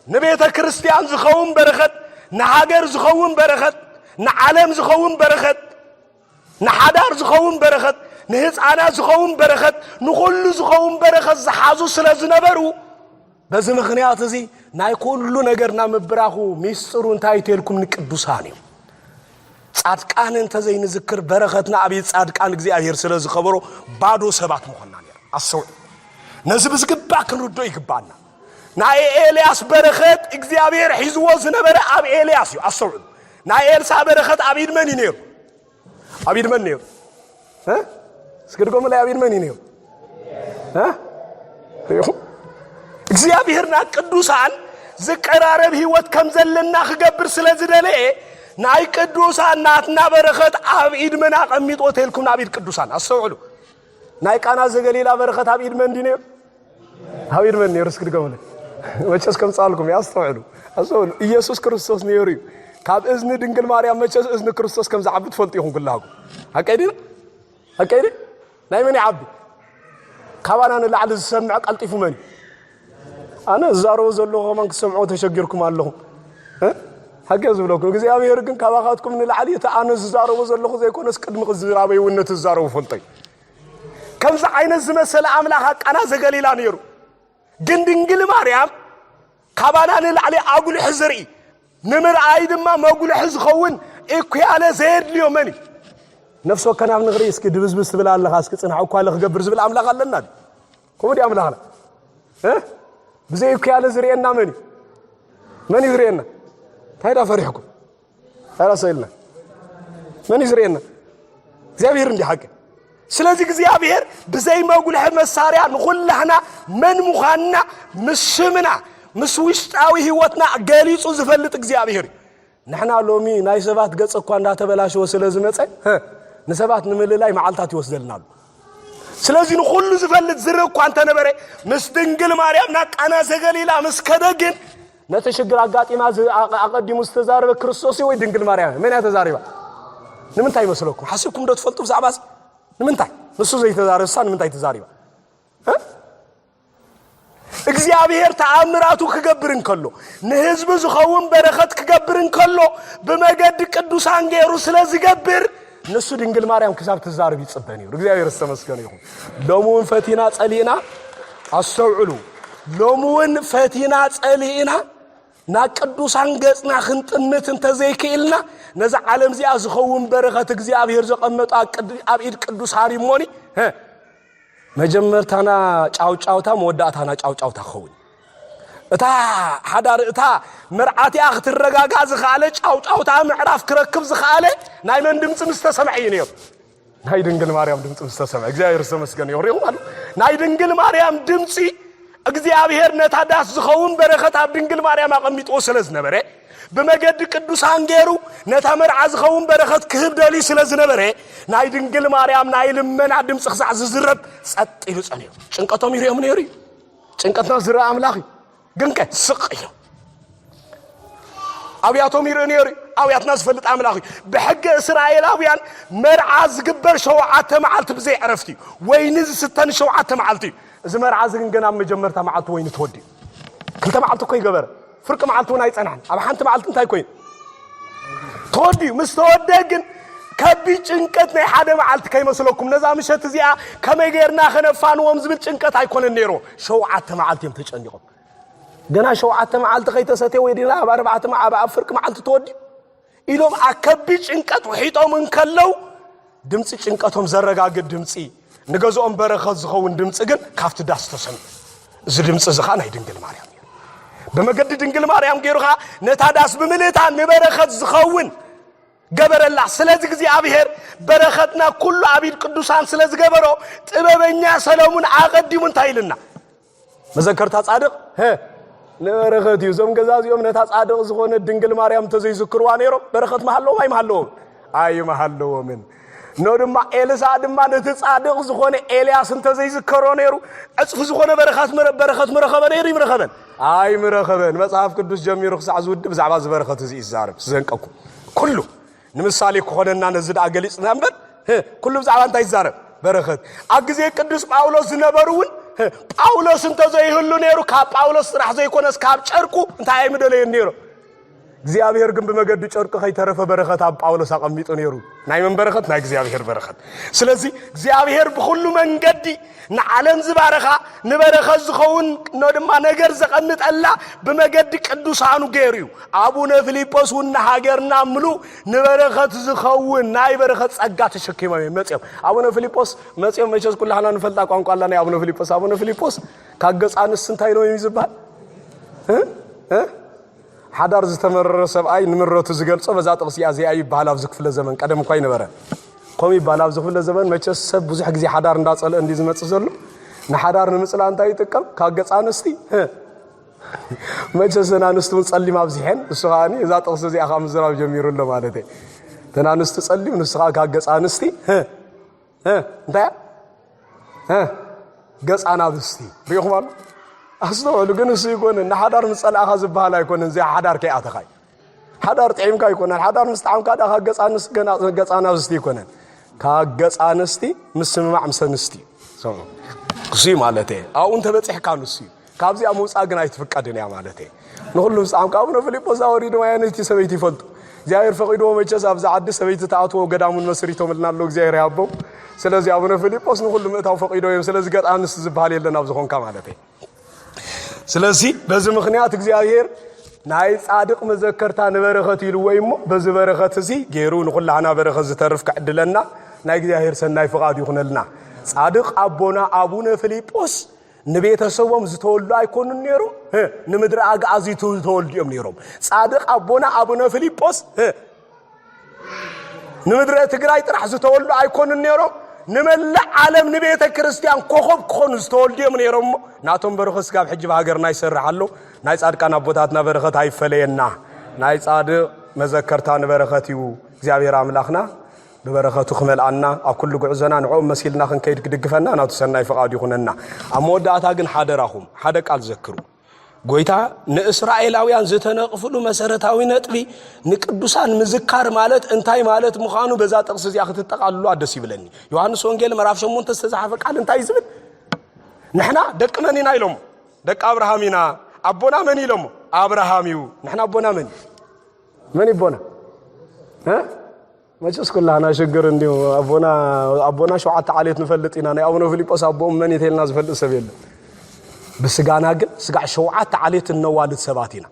ንቤተ ክርስቲያን ዝኸውን በረኸት ንሃገር ዝኸውን በረኸት ንዓለም ዝኸውን በረኸት ንሓዳር ዝኸውን በረኸት፣ ንህጻናት ዝኸውን በረኸት፣ ንኹሉ ዝኸውን በረኸት ዝሓዙ ስለ ዝነበሩ በዚ ምኽንያት እዚ ናይ ኩሉ ነገርና ምብራኹ ሚስጥሩ እንታይ እዩ ተልኩም ንቅዱሳን እዩ ጻድቃን እንተዘይንዝክር በረኸትና ኣብ ጻድቃን እግዚኣብሔር ስለ ዝኸበሮ ባዶ ሰባት ምኾና ነር ኣሰውዕ ነዚ ብዝግባእ ክንርድኦ ይግባኣና ናይ ኤልያስ በረኸት እግዚኣብሔር ሒዝዎ ዝነበረ ኣብ ኤልያስ እዩ ኣስተውዕሉ ናይ ኤልሳ በረኸት ኣብ ኢድ መን እዩ ነይሩ ኣብ ኢድ መን ነይሩ እስኪ ድገሙለይ ኣብ ኢድ መን እዩ ነይሩ ይኹም እግዚኣብሔርና ቅዱሳን ዝቀራረብ ህይወት ከም ዘለና ክገብር ስለ ዝደለየ ናይ ቅዱሳን ናትና በረኸት ኣብ ኢድ መን ኣቐሚጦ ተልኩም ናብ ኢድ ቅዱሳን ኣስተውዕሉ ናይ ቃና ዘገሊላ በረኸት ኣብ ኢድ መን እንዲ ነይሩ ሃብ ይድመን ነይሩ እስኪ ድገምለ መቸስ ከምፃልኩም እዩ ኣስተውዕሉ ኣስተውዕሉ ኢየሱስ ክርስቶስ ነይሩ እዩ ካብ እዝኒ ድንግል ማርያም መቸስ እዝኒ ክርስቶስ ከም ዝዓቢ ትፈልጡ ኢኹም ኩላኩም ኣቀይ ድና ኣቀይ ናይ መን ይዓቢ ካባና ንላዕሊ ዝሰምዕ ቀልጢፉ መን እዩ ኣነ ዝዛረቦ ዘለኹ ከማን ክሰምዖ ተሸጊርኩም ኣለኹም ሓቂ ዝብለኩም እግዚኣብሄር ግን ካባኻትኩም ንላዕሊ እቲ ኣነ ዝዛረቦ ዘለኹ ዘይኮነስ ቅድሚ ክዝራበይ እውን ነቲ ዝዛረቡ ፈልጦ እዩ ከምዚ ዓይነት ዝመሰለ ኣምላኽ ኣብ ቃና ዘገሊላ ነይሩ። ግን ድንግል ማርያም ካባና ንላዕሊ ኣጉልሒ ዝርኢ ንምርኣይ ድማ መጉልሒ ዝኸውን ኢኩያለ ዘየድልዮ መን እዩ? ነፍሲ ወከናብ ንኽርኢ እስኪ ድብዝብዝ ትብል ኣለኻ እስኪ ፅንሕ እኳ ክገብር ዝብል ኣምላኽ ኣለና ድዩ? ከምኡ ድዩ ኣምላኽና? ብዘይ ኢኩያለ ዝርእየና መን እዩ? መን እዩ ዝርእየና? እንታይ ዳ ፈሪሕኩም? ኣላ ሰው የለን። መን እዩ ዝርእየና? እግዚኣብሔር እንዲ ሓቂ። ስለዚ እግዚኣብሔር ብዘይ መጉልሒ መሳርያ ንኹላህና መን ምዃንና ምስ ሽምና ምስ ውሽጣዊ ህይወትና ገሊጹ ዝፈልጥ እግዚኣብሔር እዩ። ንሕና ሎሚ ናይ ሰባት ገጽ እኳ እንዳተበላሸወ ስለ ዝመጸ ንሰባት ንምልላይ መዓልታት ይወስደልና ኣሎ። ስለዚህ ንኹሉ ዝፈልጥ ዝርእ እኳ እንተነበረ ምስ ድንግል ማርያም ናብ ቃና ዘገሊላ ምስ ከደ ግን ነቲ ሽግር ኣጋጢማ ኣቐዲሙ ዝተዛረበ ክርስቶስ ወይ ድንግል ማርያም መን እያ ተዛሪባ? ንምንታይ ይመስለኩም? ሓሲብኩም ዶ ትፈልጡ ብዛዕባ እዚ? ንምንታይ ንሱ ዘይተዛረብሳ ንምንታይ ተዛሪባ? እግዚኣብሔር ተኣምራቱ ክገብር እንከሎ ንህዝቢ ዝኸውን በረኸት ክገብር እንከሎ ብመገዲ ቅዱሳን ገይሩ ስለ ዝገብር ንሱ ድንግል ማርያም ክሳብ ትዛርብ ይጽበን እዩ እግዚኣብሔር ዝተመስገነ ይኹን ሎሚ እውን ፈቲና ጸሊእና ኣስተውዕሉ ሎሚ እውን ፈቲና ጸሊእና ናብ ቅዱሳን ገጽና ክንጥምት እንተዘይክኢልና ነዛ ዓለም እዚኣ ዝኸውን በረኸት እግዚኣብሔር ዘቐመጡ ኣብ ኢድ ቅዱሳን እሞኒ መጀመርታና ጫውጫውታ መወዳእታና ጫውጫውታ ክኸውን እዩ እታ ሓዳር እታ መርዓቲኣ ክትረጋጋእ ዝኸኣለ ጫውጫውታ ምዕራፍ ክረክብ ዝኸኣለ ናይ መን ድምፂ ምስ ተሰምዐ እዩ ነይሩ ናይ ድንግል ማርያም ድምፂ ምስ ተሰምዐ እግዚኣብሔር ዝተመስገነ ይኹን ይኹም ኣሉ ናይ ድንግል ማርያም ድምፂ እግዚኣብሔር ነታ ዳስ ዝኸውን በረኸት ኣብ ድንግል ማርያም ኣቐሚጥዎ ስለ ዝነበረ ብመገዲ ቅዱሳን ገይሩ ነታ መርዓ ዝኸውን በረኸት ክህብ ደልዩ ስለ ዝነበረ ናይ ድንግል ማርያም ናይ ልመና ድምፂ ክሳዕ ዝዝረብ ጸጥ ኢሉ ጸንዩ ጭንቀቶም ይርኦም ነይሩ እዩ ጭንቀትና ዝረአ ኣምላኽ እዩ ግን ከ ስቕ ኢሉ ኣብያቶም ይርኢ ነይሩ እዩ ኣውያትና ዝፈልጥ ኣምላኽ እዩ ብሕገ እስራኤላውያን መርዓ ዝግበር ሸውዓተ መዓልቲ ብዘይ ዕረፍቲ እዩ ወይኒ ዝስተን ሸውዓተ መዓልቲ እዩ እዚ መርዓ እዚ ግን ገና ኣብ መጀመርታ መዓልቲ ወይኒ ተወዲኡ ክልተ መዓልቲ እኮ ይገበረ ፍርቂ መዓልቲ እውን ኣይጸንሐን። ኣብ ሓንቲ መዓልቲ እንታይ ኮይኑ ተወዲኡ ምስ ተወድአ ግን ከቢድ ጭንቀት ናይ ሓደ መዓልቲ ከይመስለኩም ነዛ ምሸት እዚኣ ከመይ ጌርና ከነፋንዎም ዝብል ጭንቀት ኣይኮነን ነይሮ ሸውዓተ መዓልቲ እዮም ተጨኒቖም ገና ሸውዓተ መዓልቲ ከይተሰትየ ወይ ድና ኣብ ኣርባዕተ ኣብ ፍርቂ መዓልቲ ተወዲኡ ኢሎም ኣብ ከቢድ ጭንቀት ውሒጦም እንከለው ድምፂ ጭንቀቶም ዘረጋግእ ድምፂ ንገዝኦም በረኸት ዝኸውን ድምፂ ግን ካብቲ ዳስ ተሰምዑ እዚ ድምፂ እዚ ከዓ ናይ ድንግል ማርያም እዩ ብመገዲ ድንግል ማርያም ገይሩ ከዓ ነታ ዳስ ብምልእታ ንበረኸት ዝኸውን ገበረላ ስለዚ እግዚኣብሔር በረኸትና ኩሉ ኣብ ኢድ ቅዱሳን ስለ ዝገበሮ ጥበበኛ ሰለሙን ኣቐዲሙ እንታይ ኢልና መዘከርታ ጻድቕ ሀ ንበረኸት እዩ እዞም ገዛ እዚኦም ነታ ጻድቕ ዝኾነ ድንግል ማርያም እንተዘይዝክርዋ ነይሮም በረኸት መሃለዎም ኣይመሃለዎም ኣይመሃለዎምን ኖ ድማ ኤልሳ ድማ ነቲ ጻድቕ ዝኾነ ኤልያስ እንተዘይዝከሮ ነይሩ ዕፅፊ ዝኾነ በረኻት በረኸት ምረኸበ ነይሩ ይምረኸበን ኣይምረኸበን መጽሓፍ ቅዱስ ጀሚሩ ክሳዕ ዝውድእ ብዛዕባ ዝበረኸት እዚ እዩ ዝዛረብ ዝዘንቀኩም ኩሉ ንምሳሌ ክኾነና ነዚ ደኣ ገሊጽና እምበር ኩሉ ብዛዕባ እንታይ ይዛረብ በረኸት ኣብ ግዜ ቅዱስ ጳውሎስ ዝነበሩ እውን ጳውሎስ እንተዘይህሉ ነይሩ ካብ ጳውሎስ ጥራሕ ዘይኮነስ ካብ ጨርቁ እንታይ ኣይምደለየን ነይሩ እግዚኣብሔር ግን ብመገዲ ጨርቂ ከይተረፈ በረኸት ኣብ ጳውሎስ ኣቐሚጡ ነይሩ ናይ መን በረኸት ናይ እግዚኣብሔር በረኸት ስለዚ እግዚኣብሔር ብኩሉ መንገዲ ንዓለም ዝበረኻ ንበረኸት ዝኸውን ኖ ድማ ነገር ዘቐምጠላ ብመገዲ ቅዱሳኑ ገይሩ እዩ። ኣቡነ ፊሊጶስ እውን ንሃገርና ምሉ ንበረኸት ዝኸውን ናይ በረኸት ጸጋ ተሸኪሞም እዮም መጽኦም። ኣቡነ ፊሊጶስ መጽኦም መቸስ ኩላህና ንፈልጣ ቋንቋ ኣላ ናይ ኣቡነ ፊሊጶስ ኣቡነ ፊሊጶስ ካብ ገጻንስ እንታይ ኢሎም እዩ ዝበሃል ሓዳር ዝተመረረ ሰብኣይ ንምረቱ ዝገልጾ በዛ ጥቕሲ እያ እዚኣ ይበሃል ኣብዚ ክፍለ ዘመን ቀደም እኳ ይነበረ ከምኡ ይበሃል ኣብዚ ክፍለ ዘመን መቸስ ሰብ ብዙሕ ግዜ ሓዳር እንዳጸልአ እንዲ ዝመጽእ ዘሎ ንሓዳር ንምጽላእ እንታይ ይጥቀም ካብ ገጽ ኣንስቲ መቸስ ዘን ኣንስቲ እውን ጸሊም ኣብዚሐን ንሱ ከዓ እዛ ጥቕሲ እዚኣ ከዓ ምዝራብ ጀሚሩ ኣሎ ማለት እየ ተን ኣንስቲ ጸሊም ንሱ ከዓ ካብ ገጽ ኣንስቲ እንታይ ገፅ ኣናብስቲ ርኢኹም ኣሎ ኣስተውዕሉ ግን እሱ ይኮነ ንሓዳር ምስ ፀላእኻ ዝበሃል ኣይኮነን እዚኣ ሓዳር ከይኣተኻ እዩ ሓዳር ጥዒምካ ኣይኮነን ሓዳር ምስ ጣዕምካ ዳ ካብ ገፅ ኣንስቲ ገፅ ኣናብስቲ ይኮነን ካብ ገፅ ኣንስቲ ምስምማዕ ምስ ኣንስቲ እዩ እሱ ማለት እየ ኣብኡ እንተበፂሕካ ንሱ እዩ ካብዚኣ ምውፃእ ግን ኣይትፍቀድን እያ ማለት እየ ንኹሉ ህፃም ካብነ ፊልጶስ ኣወሪድም ኣየነይቲ ሰበይቲ ይፈልጡ እግዚኣብሔር ፈቂድዎ መቸስ ኣብዚ ዓዲ ሰበይቲ ተኣትዎ ገዳሙን መስሪቶምልና ኣሎ እግዚኣብሔር ያቦም ስለዚ ኣቡነ ፊልጶስ ንኹሉ ምእታው ፈቂዶ እዮም ስለዚ ገጥ ኣንስ ዝበሃል የለን ኣብ ዝኾንካ ማለት እዩ ስለዚ በዚ ምክንያት እግዚኣብሔር ናይ ጻድቅ መዘከርታ ንበረኸት ኢሉ ወይ እሞ በዚ በረኸት እዚ ገይሩ ንኹላህና በረኸት ዝተርፍ ክዕድለና ናይ እግዚኣብሔር ሰናይ ፍቓድ ይኹነልና ጻድቅ ኣቦና ኣቡነ ፊልጶስ ንቤተሰቦም ዝተወልዱ ኣይኮኑን ነይሮም ንምድሪ ኣግኣዚ ዝተወልዱ እዮም ነይሮም ጻድቅ ኣቦና ኣቡነ ፊልጶስ ንምድረ ትግራይ ጥራሕ ዝተወልዱ ኣይኮኑን ነይሮም ንመላእ ዓለም ንቤተ ክርስቲያን ኮኸብ ክኾኑ ዝተወልዱ እዮም ነይሮም እሞ ናቶም በረኸ ስጋብ ሕጂ ሃገርና ይሰርሕ ኣሎ ናይ ጻድቃን ኣቦታትና በረኸት ኣይፈለየና ናይ ጻድቅ መዘከርታ ንበረኸት እዩ እግዚኣብሔር ኣምላኽና ብበረኸቱ ክመልኣና ኣብ ኩሉ ጉዕዞና ንዕኦም መሲልና ክንከይድ ክድግፈና ናቱ ሰናይ ፍቓዱ ይኹነና። ኣብ መወዳእታ ግን ሓደራኹም ሓደ ቃል ዘክሩ። ጎይታ ንእስራኤላውያን ዝተነቕፍሉ መሰረታዊ ነጥቢ ንቅዱሳን ምዝካር ማለት እንታይ ማለት ምዃኑ በዛ ጥቕሲ እዚኣ ክትጠቓልሉ ኣደስ ይብለኒ ዮሃንስ ወንጌል ምዕራፍ 8 ዝተዛሓፈ ቃል እንታይ ዝብል ንሕና ደቂ መን ኢና ኢሎሞ ደቂ ኣብርሃም ኢና ኣቦና መን ኢሎሞ ኣብርሃም እዩ ንሕና ኣቦና መን እዩ መን ይቦና መቸስ ኩላና ሽግር እንዲሁ ኣቦና ኣቦና ሸውዓተ ዓሌት ንፈልጥ ኢና ናይ ኣቡነ ፊልጶስ ኣቦኦም መን የተልና ዝፈልጥ ሰብ የለን ብስጋና ግን ስጋዕ ሸውዓተ ዓሌት እነዋልድ ሰባት ኢና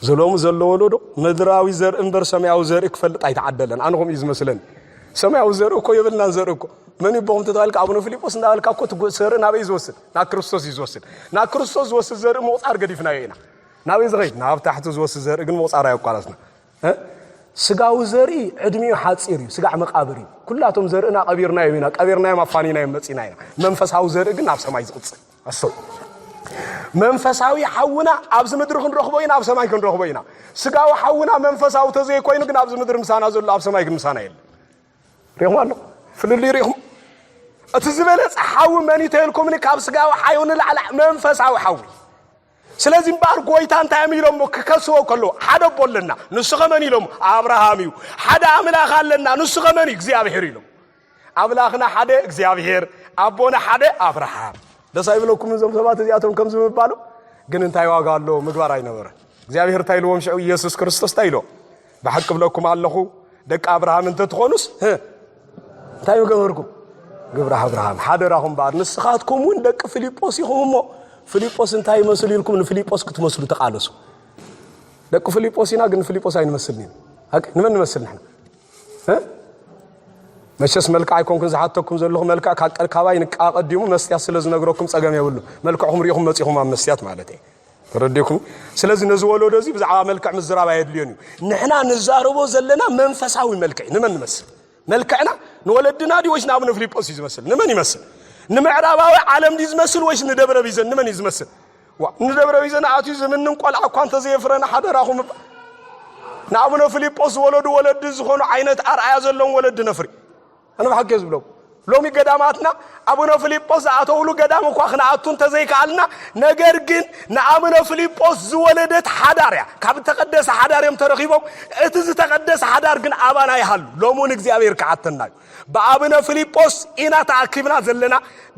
ዘሎሙ ዘሎ ወለዶ ምድራዊ ዘርኢ እምበር ሰማያዊ ዘርኢ ክፈልጥ ኣይተዓደለን ኣነ ከምኡ እዩ ዝመስለኒ ሰማያዊ ዘርኢ እኮ የብልናን ዘርኢ እኮ መን ይቦኹም ተተባልካ ኣቡነ ፊልጶስ እንዳበልካ እኮ ዘርኢ ናበይ ዝወስድ ናብ ክርስቶስ እዩ ዝወስድ ናብ ክርስቶስ ዝወስድ ዘርኢ ምቑፃር ገዲፍናዮ ኢና ናበይ ዝኸይድ ናብ ታሕቲ ዝወስድ ዘርኢ ግን ምቑጻር ኣየቋረጽና እ ስጋዊ ዘርኢ ዕድሚኡ ሓጺር እዩ ስጋዕ መቃብር እዩ ኩላቶም ዘርእና ቀቢርናዮም ኢና ቀቢርናዮም ኣፋኒናዮም መጺና ኢና መንፈሳዊ ዘርኢ ግን ናብ ሰማይ ዝቕጽል ኣስተው መንፈሳዊ ሓውና ኣብዚ ምድሪ ክንረኽቦ ኢና ኣብ ሰማይ ክንረኽቦ ኢና ስጋዊ ሓውና መንፈሳዊ ተዘይኮይኑ ግን ኣብዚ ምድሪ ምሳና ዘሎ ኣብ ሰማይ ግን ምሳና የለን ሪኹም ኣለኹ ፍልልይ ሪኹም እቲ ዝበለፀ ሓዊ መን እዩ ተልኩምኒ ካብ ስጋዊ ሓዩ ንላዕላ መንፈሳዊ ሓዊ ስለዚ እምበኣር ጐይታ እንታይ እዮም ኢሎሞ ክከስዎ ከለዉ፣ ሓደ ኣቦ ኣለና፣ ንሱኸ መን ኢሎሞ፣ ኣብርሃም እዩ። ሓደ ኣምላኽ ኣለና፣ ንሱኸ መን እዩ፣ እግዚኣብሄር ኢሎሞ። ኣምላኽና ሓደ እግዚኣብሄር፣ ኣቦና ሓደ ኣብርሃም። ደስ ኣይብለኩምን እዞም ሰባት እዚኣቶም ከምዚ ምባሉ? ግን እንታይ ዋጋ ኣሎ ምግባር ኣይነበረ እግዚኣብሔር እንታይ ኢልዎም ሽዑ ኢየሱስ ክርስቶስ እንታይ ኢልዎም ብሓቂ እብለኩም ኣለኹ፣ ደቂ ኣብርሃም እንተ ትኾኑስ፣ ህ፣ እንታይ ምገበርኩም? ግብረ ኣብርሃም። ሓደራኹም እምበኣር ንስኻትኩም እውን ደቂ ፊልጶስ ኢኹም እሞ፣ ፊልጶስ እንታይ ይመስል ኢልኩም ንፊልጶስ ክትመስሉ ተቓለሱ። ደቂ ፊልጶስ ኢና፣ ግን ንፊልጶስ ኣይንመስልን ኢና። ሀቅ ንመን ንመስል ንሕና መቸስ መልክዕ ኣይኮንኩን ዝሓተኩም ዘለኹ መልክዕ ካባይ ንቃ ቀዲሙ መስትያት ስለ ዝነግረኩም ጸገም የብሉ መልክዕኹም ሪኢኹም መጺኹም ኣብ መስትያት ማለት እየ ተረዲእኩ ስለዚ ነዚ ወለዶ እዚ ብዛዕባ መልክዕ ምዝራብ ኣየድልዮን እዩ ንሕና ንዛረቦ ዘለና መንፈሳዊ መልክዕ ንመን ንመስል መልክዕና ንወለድና ድዩ ወይስ ንኣብነ ፊልጶስ እዩ ዝመስል ንመን ይመስል ንምዕራባዊ ዓለም ድዩ ዝመስል ወይስ ንደብረ ቢዘን ንመን እዩ ዝመስል ንደብረ ቢዘን ኣትዩ ዝምንን ቆልዓ እኳ እንተዘየፍረና ሓደራኹም ንኣብነ ፊልጶስ ዝወለዱ ወለዲ ዝኾኑ ዓይነት ኣርኣያ ዘለዎም ወለዲ ነፍሪ ኣነ ብሓቂ እየ ዝብለኩም ሎሚ ገዳማትና ኣቡነ ፊልጶስ ዝኣተውሉ ገዳም እኳ ክንኣቱ እንተዘይከኣልና ነገር ግን ንኣቡነ ፊልጶስ ዝወለደት ሓዳር እያ ካብ እተቐደሰ ሓዳር እዮም ተረኺቦም እቲ ዝተቐደሰ ሓዳር ግን ኣባና ይሃሉ ሎሚ እውን እግዚኣብሔር ክሓተና እዩ ብኣብነ ፊልጶስ ኢና ተኣኪብና ዘለና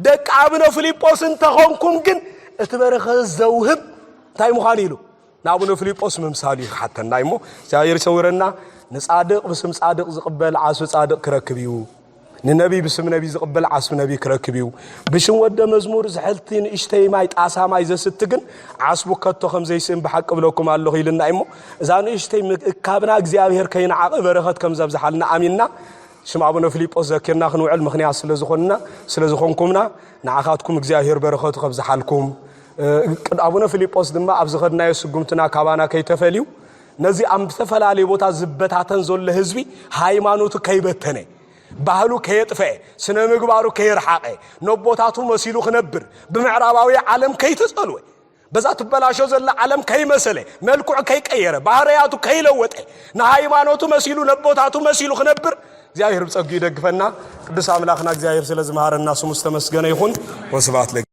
ደቂ ኣብነ ፊልጶስ እንተኾንኩም ግን እቲ በረኸ ዘውህብ እንታይ ምዃኑ ኢሉ ንኣቡነ ፍሊጶስ ምምሳሉ እዩ ክሓተና እዩሞ እግዚኣብሔር ይሰውረና ንጻድቅ ብስም ጻድቅ ዝቕበል ዓስቢ ጻድቅ ክረክብ እዩ ንነቢይ ብስም ነቢይ ዝቕበል ዓስቢ ነቢይ ክረክብ እዩ ብሽም ወደ መዝሙር ዝሕልቲ ንእሽተይ ማይ ጣሳ ማይ ዘስቲ ግን ዓስቡ ከቶ ከም ዘይስእን ብሓቂ ብለኩም ኣለኹ ኢልና እዩሞ እዛ ንእሽተይ ምእካብና እግዚኣብሔር ከይንዓቐ በረኸት ከም ዘብዝሓልና ኣሚንና ሽም ኣቡነ ፊልጶስ ዘኪርና ክንውዕል ምክንያት ስለዝኾንና ስለዝኾንኩምና ንዓኻትኩም እግዚኣብሔር በረኸቱ ከብዝሓልኩም ቅድ ኣቡነ ፊልጶስ ድማ ኣብ ዝኸድናዮ ስጉምትና ካባና ከይተፈልዩ ነዚ ኣብ ዝተፈላለየ ቦታ ዝበታተን ዘሎ ህዝቢ ሃይማኖቱ ከይበተነ ባህሉ ከየጥፈአ ስነ ምግባሩ ከየርሓቐ ነቦታቱ መሲሉ ክነብር ብምዕራባዊ ዓለም ከይተጸልወ በዛ ትበላሾ ዘላ ዓለም ከይመሰለ መልክዑ ከይቀየረ ባህርያቱ ከይለወጠ ንሃይማኖቱ መሲሉ ነቦታቱ መሲሉ ክነብር እግዚኣብሔር ብጸጉ ይደግፈና። ቅዱስ ኣምላኽና እግዚኣብሔር ስለ ዝመሃረና ስሙ ዝተመስገነ ይኹን። ወስብሐት